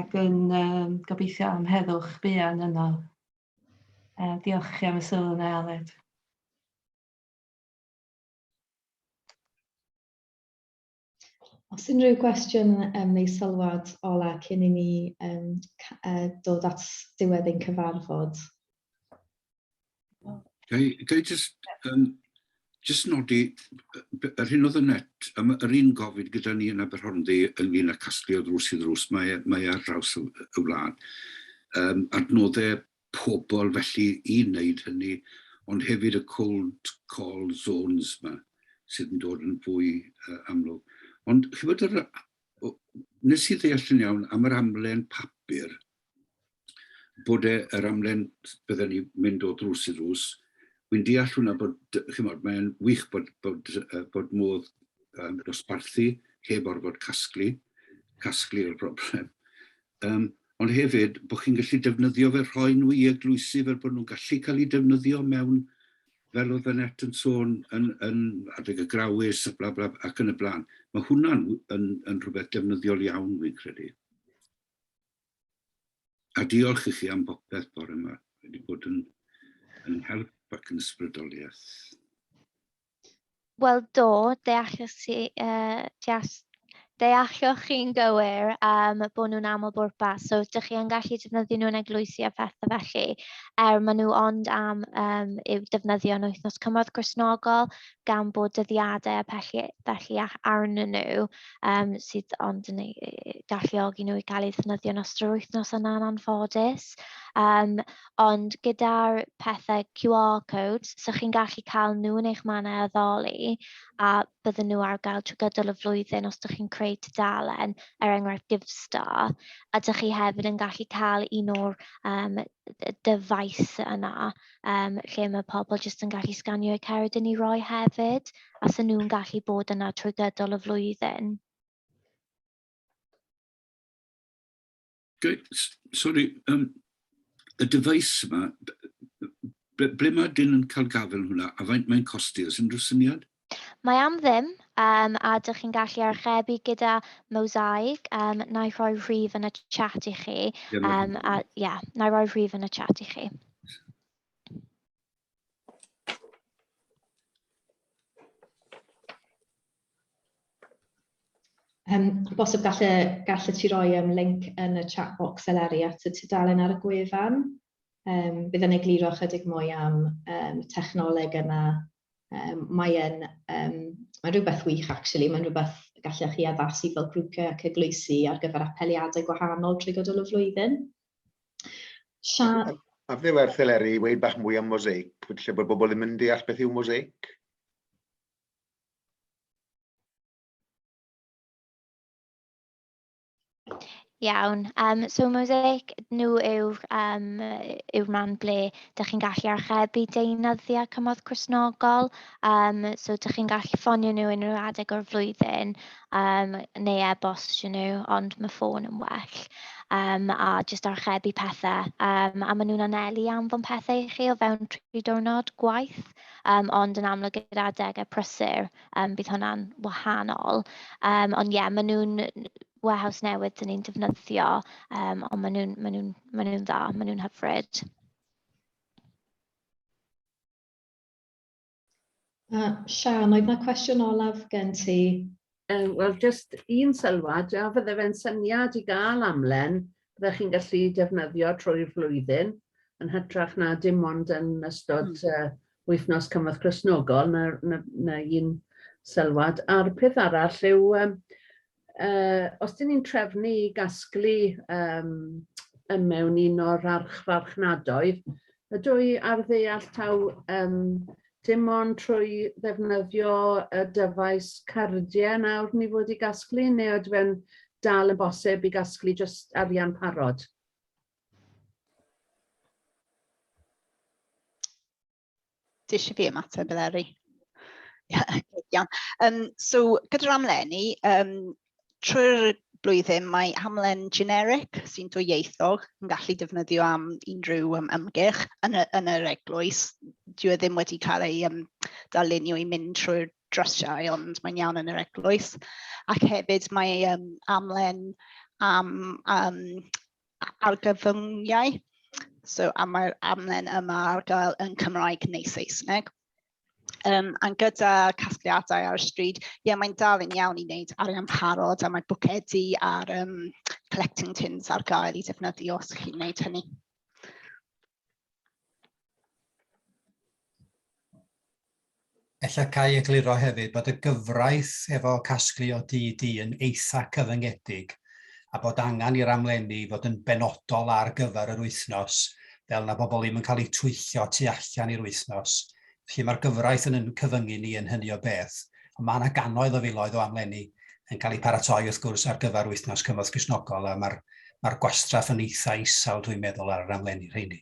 ac yn yym gobeithio am heddwch buan yno. Yy diolch i chi am y sylw yna Aled. Os unrhyw gwestiwn um, neu sylwad ola cyn i ni um, uh, dod at diwedd ein cyfarfod. Gai, gai just, um, just nodi, yr hyn oedd y net, um, yr un gofid gyda ni yn Aberhornddu ynglyn â casglu o ddrws i ddrws, mae, e, mae e ar draws y, y wlad. Um, adnodau pobl felly i wneud hynny, ond hefyd y cold call zones 'ma sydd yn dod yn fwy amlwg. Ond chybod, yr, nes i ddeall yn iawn am yr amlen papur, bod e, yr amlen bydden ni mynd o ddrws i ddrws, wy'n deall hwnna bod, chymod, mae'n wych bod, bod, bod modd um, dosbarthu heb orfod casglu, casglu'r broblem. Yym, ond hefyd bod chi'n gallu defnyddio fe, rhoi nhw i eglwysi fel bod nhw'n gallu cael eu defnyddio mewn, fel oedd Annette yn sôn, yn, yn adeg y grawys a bla bla ac yn y blaen. Mae hwnna'n yn, yn rhywbeth defnyddiol iawn, fi'n credu. A diolch i chi am bopeth bore yma. Wedi bod yn, yn help ac yn ysbrydoliaeth. Wel do, deallwch chi, yy, deall- deallwch chi'n gywir yym bod nhw'n aml-bwrpas, so dych chi yn gallu defnyddio nhw yn eglwysi a phethe felly, er maen nhw ond am yym i'w defnyddio yn wythnos cymorth Gristnogol, gan bod dyddiadau a pelly felly a- arnyn nhw yym sydd ond yn eu galluogi nhw i gael eu ddefnyddio yn ystod yr wythnos yna'n anffodus. Yym ond gyda'r pethe QR codes, so chi'n gallu cael nhw yn eich mannau addoli, a bydden nhw ar gael trwy gydol y flwyddyn os ydych chi'n creu tudalen, er enghraifft GiveStar, a dych chi hefyd yn gallu cael un o'r um, dyfais yna, um, lle mae pobl jyst yn gallu sganio eu cered yn ei roi hefyd, a sy'n nhw'n gallu bod yna trwy gydol y flwyddyn. Dwi, sorry, um, y dyfais yma, ble, ble mae dyn yn cael gafel hwnna, a faint mae'n costi, os unrhyw syniad? Mae am ddim, um, a dych chi'n gallu archebu gyda Mosaic, um, na i rhoi rhif yn y chat i chi, um, a ie, yeah, na i rhoi rhif yn y chat i chi. Yym, bosib gall y, gall y ti roi um, link yn y chat box eleri at y tudalen ar y gwefan. Um, bydd yn egluro chydig mwy am um, technoleg yna. Um, mae'n um, mae rhywbeth wych, actually. Mae'n rhywbeth gallech chi addasu fel grwpiau ac eglwysi ar gyfer apeliadau gwahanol trwy gydol y flwyddyn. Sia... A fe werth eleri i weid bach mwy am mosaic, lle bod bobl ddim yn deall beth yw mosaic? Iawn, um, so Mosaic, nhw yw, um, yw rhan ble dych chi'n gallu archebu deunyddiau cymorth cwsnogol, um, so dych chi'n gallu ffonio nhw unrhyw adeg o'r flwyddyn um, neu e-bostio nhw, ond mae ffôn yn well, um, a jyst archebu pethau, um, a maen nhw'n anelu anfon pethau i chi o fewn tri diwrnod gwaith. Um, ond yn amlwg gyda adegau prysur, um, bydd hwnna'n wahanol. Um, ond ie, yeah, maen nhw'n warehouse newydd dyn ni'n defnyddio, um, ond maen nhw'n ma nhw, ma nhw dda, maen nhw'n hyfryd. Uh, Sian, oedd yna cwestiwn olaf gen ti? Yym, wel, jyst un sylwad, a fydde fe'n syniad i gael amlen fyddech chi'n gallu defnyddio trwy'r flwyddyn, yn hytrach na dim ond yn ystod y wythnos cymorth Cristnogol, 'na 'na 'na un sylwad. A'r peth arall yw yym yy os 'dyn ni'n trefnu i gasglu yym yn mewn un o'r archfarchnadoedd, Ydw i ar ddeall taw yym dim ond trwy ddefnyddio y dyfais cardiau nawr ni fod i gasglu neu ydw e'n dal yn bosib i gasglu jyst arian parod? Ti eisiau fi ymateb Eleri? Iawn. Um, so gyda'r amlenni, um, trwy'r blwyddyn mae hamlen generic sy'n dwyieithog yn gallu defnyddio am unrhyw um, ymgyrch yn y, yn yr eglwys. Dwi e ddim wedi cael ei um, darlunio i mynd trwy'r drysiau, ond mae'n iawn yn yr eglwys. Ac hefyd mae um, amlen am um, argyfyngiau. So, am mae'r amlen yma ar gael yn Cymraeg neu Saesneg. Um, a gyda casgliadau ar y stryd, ie, yeah, mae'n dal yn iawn i wneud arian parod a mae bwcedi a'r um, collecting tins ar gael i defnyddio os chi'n wneud hynny. Ella cael ei egluro hefyd bod y gyfraith efo casglu o DD yn eitha cyfyngedig a bod angen i'r amlenni fod yn benodol ar gyfer yr wythnos, fel na bobl ddim yn cael eu twyllo tu allan i'r wythnos. Felly mae'r gyfraith yn yn cyfyngu ni yn hynny o beth. Ond mae yna gannoedd o filoedd o amlenni yn cael eu paratoi wrth gwrs ar gyfer wythnos cymorth Cristnogol a mae'r mae'r gwastraff yn eitha isel dwi'n meddwl ar yr amlenni rheini.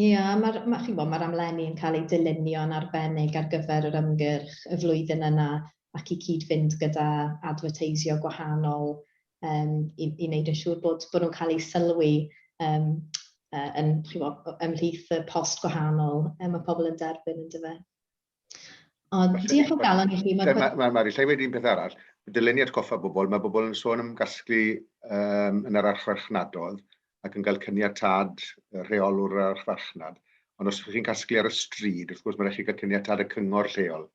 Ia, mae'r, ma, chi'n gwybod, mae'r amlenni yn cael eu dylunio'n arbennig ar gyfer yr ymgyrch y flwyddyn yna ac i cyd-fynd gyda adferteisio gwahanol um, i, i wneud yn siŵr bod, bod nhw'n cael eu sylwi um, uh, yn, chi'n gwybod, ymhlith y post gwahanol um, mae pobl yn derbyn yn dyfa. Ond diolch o galon i chi. Mae ma, ma, lle wedi'n peth arall, dylen ni atgoffa bobl, mae bobl yn sôn am gasglu um, yn yr archfarchnadodd ac yn cael cyniatad rheolwr yr archfarchnad. Ond os ydych chi'n casglu ar y stryd, wrth gwrs mae'n rhaid chi gael cyniatad y cyngor lleol.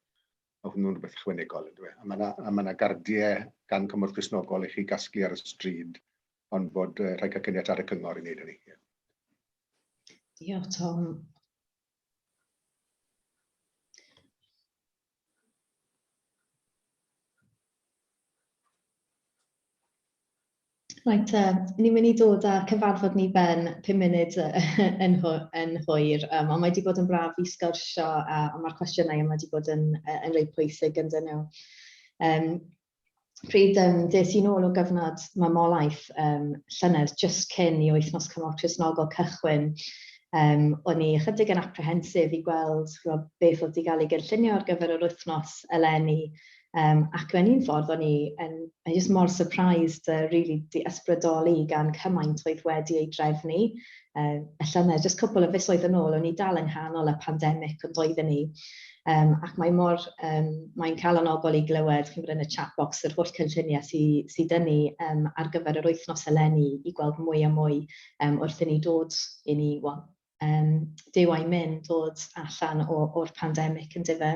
Mae hwnnw'n rhywbeth ychwanegol, yn dweud. E? A mae yna gardiau gan cymorth gysnogol i chi gasglu ar y stryd, ond bod uh, rhaid cael cyniatad y cyngor i wneud hynny. Diolch, Tom. Reit te, ni'n mynd i dod â'r cyfarfod ni ben pum munud yn hwyr, ond mae wedi bod yn braf i sgwrsio a mae'r cwestiynau yma wedi bod yn reit pwysig ynddyn nhw. pryd um, des i'n ôl o gyfnod mamolaeth um, llynedd just cyn i wythnos cymorth Cresnogol cychwyn, um, o'n i ychydig yn apprehensive i gweld chwbod, beth oedd wedi cael ei gynllunio ar gyfer yr wythnos eleni. Um, ac mewn un ffordd o'n i yn, yn just mor surprised a uh, really di ysbrydoli gan cymaint oedd wedi ei drefnu. Uh, y llynedd, just cwpl o fisoedd yn ôl, o'n i dal yng nghanol y pandemig ond doedden ni Um, ac mae mor, um, mae'n calonogol i glywed, chi'n gwybod, yn y chat box, yr holl cynlluniau sydd sy dyn ni um, ar gyfer yr wythnos eleni i gweld mwy a mwy um, wrth i ni dod i ni, well, um, dyw a'i mynd dod allan o'r pandemig yn dife.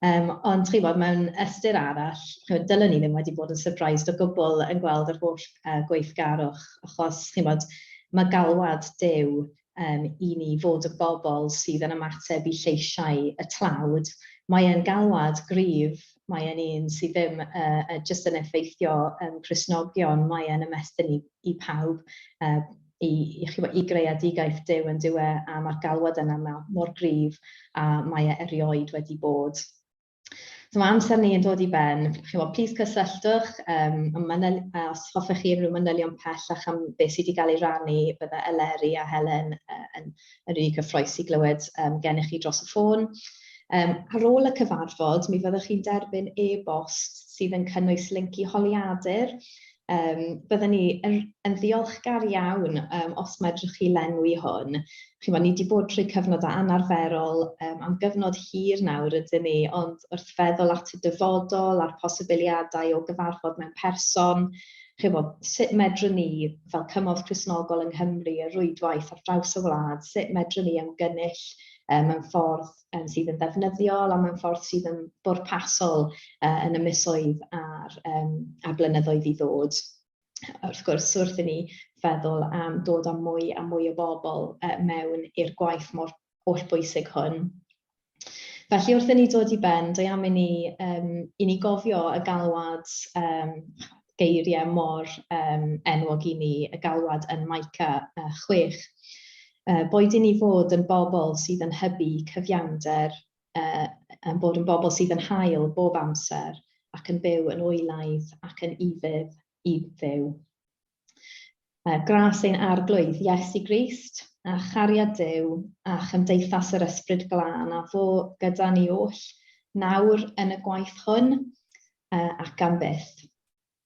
Um, ond chi bod, mewn ystyr arall, chymod, dylwn ni ddim wedi bod yn surprised o gwbl yn gweld yr holl uh, gweithgarwch, achos chi bod, mae galwad dew yym, i ni fod y bobl sydd yn ymateb i lleisiau y tlawd. Mae e'n galwad gryf, mae e'n un sydd ddim yy jyst yn effeithio yym Cristnogion, mae e'n ymestyn i i pawb, yy i i chimod i greadigaeth Duw yndyw e, a ma'r galwad yna ma' mor gryf a mae e erioed wedi bod. So mae amser ni yn dod i ben. Chi'n gwybod, plis cysylltwch um, am manyl, os hoffech chi unrhyw manylion pellach am beth sydd wedi cael ei rannu, bydde Eleri a Helen uh, yn, yn rili cyffroes i glywed um, gennych chi dros y ffôn. Um, ar ôl y cyfarfod, mi fyddwch chi'n derbyn e-bost sydd yn cynnwys link i holiadur Yym, bydden ni yn yn ddiolchgar iawn yym os medrwch chi lenwi hwn. Chimod, ni 'di bod trwy cyfnod anarferol yym am gyfnod hir nawr ydyn ni, ond wrth feddwl at y dyfodol a'r posibiliadau o gyfarfod mewn person, chimod, sut medrwn ni fel cymorth Cristnogol yng Nghymru, y rwydwaith ar draws y wlad, sut medrwn ni ymgynnull yy mewn ffordd um, sydd yn ddefnyddiol a mewn ffordd sydd yn bwrpasol uh, yn y misoedd a'r, um, a'r blynyddoedd i ddod. Wrth gwrs, wrth i ni feddwl am dod â mwy a mwy o bobl uh, mewn i'r gwaith mor holl bwysig hwn. Felly wrth i ni dod i ben, dwi am i ni, um, i ni gofio y galwad um, geiriau mor um, enwog i ni, y galwad yn Maica uh, 6. boed i ni fod yn bobl sydd yn hybu cyfiawnder, ein bod yn bobl sydd yn hael bob amser ac yn byw yn oelaidd ac yn ufudd i Dduw. Gras ein Arglwydd Iesu Grist, a chariad Duw, a chymdeithas yr Ysbryd Glân, a fo gyda ni oll, nawr yn y gwaith hwn ac am byth.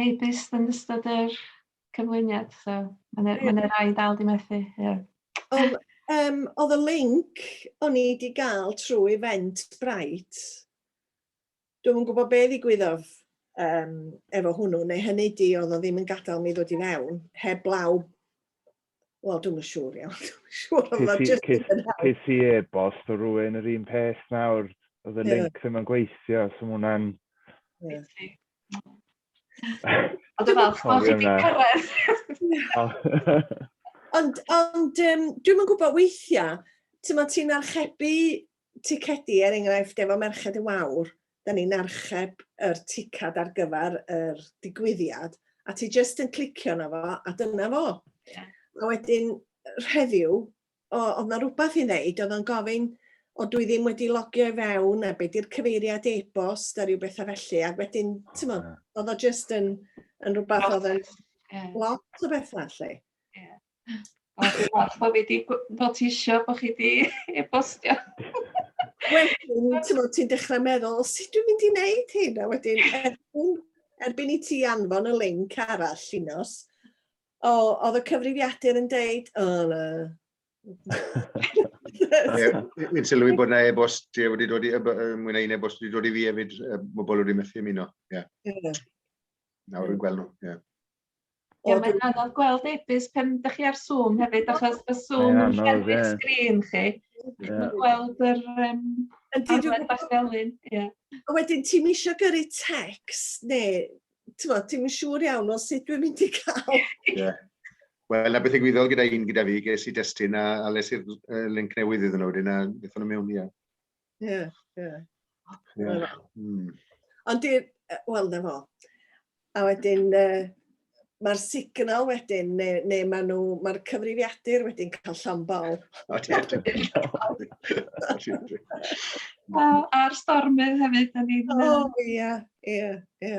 e-byst yn ystod yr cyflwyniad so ma' 'na ma' 'na rai dal 'di methu ie. Odd yym odd y linc o'n i 'di ga'l trw Eventbrite dwi'm yn gwbo be' ddigwyddodd yym efo hwnnw neu hynny 'di odd o ddim yn gadal mi ddod i fewn heblaw Wel, dwi'n yn siŵr iawn, dwi'n yn siŵr, ond mae'n just ddim yn help. Ces i e-bost o rwy'n yr un peth nawr, oedd y link ddim yn gweithio, so mae hwnna'n... Ond dwi'n falch bod chi wedi cyrraedd. Ond, ond um, dwi'n yn gwybod weithiau, ti'n ti'n archebu Ticedi, er enghraifft, efo Merched y Wawr, dan ni'n archeb yr ticad ar gyfer yr digwyddiad, a ti jyst yn clicio na fo, a dyna fo. Yeah. A wedyn, rheddiw, oedd na rhywbeth i ddeud, oedd o'n gofyn, o dwi ddim wedi logio i fewn, a be di'r cyfeiriad e-bost, a rhyw bethau felly, a wedyn, ti'n modd, oedd o jyst yn, yn rhywbeth oedd yn lot o bethau, lle. Yeah. O, dwi'n falch bod fi di notisio bod chi di e-bostio. Wedyn, ti'n bod, ti'n dechrau meddwl, sut dwi'n mynd i wneud hyn? A wedyn, erbyn, erbyn i ti anfon y link arall, Llinos, o, oedd y cyfrifiadur yn deud, o, na. Wy'n sylwi bod yna e-bost ti wedi dod i, mwy na un e-bost wedi dod i fi hefyd, bobl wedi methu ymuno. Ie. Nawr yn gweld nhw, ie. Ie mae'n anodd gweld e-byst pan dach chi ar Zoom hefyd achos ma' Zoom... Mae'n anodd ie. ...yn llethu'ch sgrin chi. Ie. Dych chi'm yn gweld yr yym... Yndi dwi gwbod. ...bach felyn ie. A wedyn ti'm isio gyrru tecst ne' t'mod ti'm yn siŵr iawn o sut dwi'n mynd i ca'l... Ie. Wel 'na beth ddigwyddodd gyda un gyda fi ges i destun a a les i'r yy linc newydd iddyn nw wedyn a nethon nw mewn ie. Ie, ie. Ie. Hmm. Ond di, wel, na fo. A wedyn, uh, mae'r signal wedyn, neu, neu mae nhw, mae'r cyfrifiadur wedyn cael llon bol. A'r stormydd hefyd, da ni'n... O, ie, ie, ie.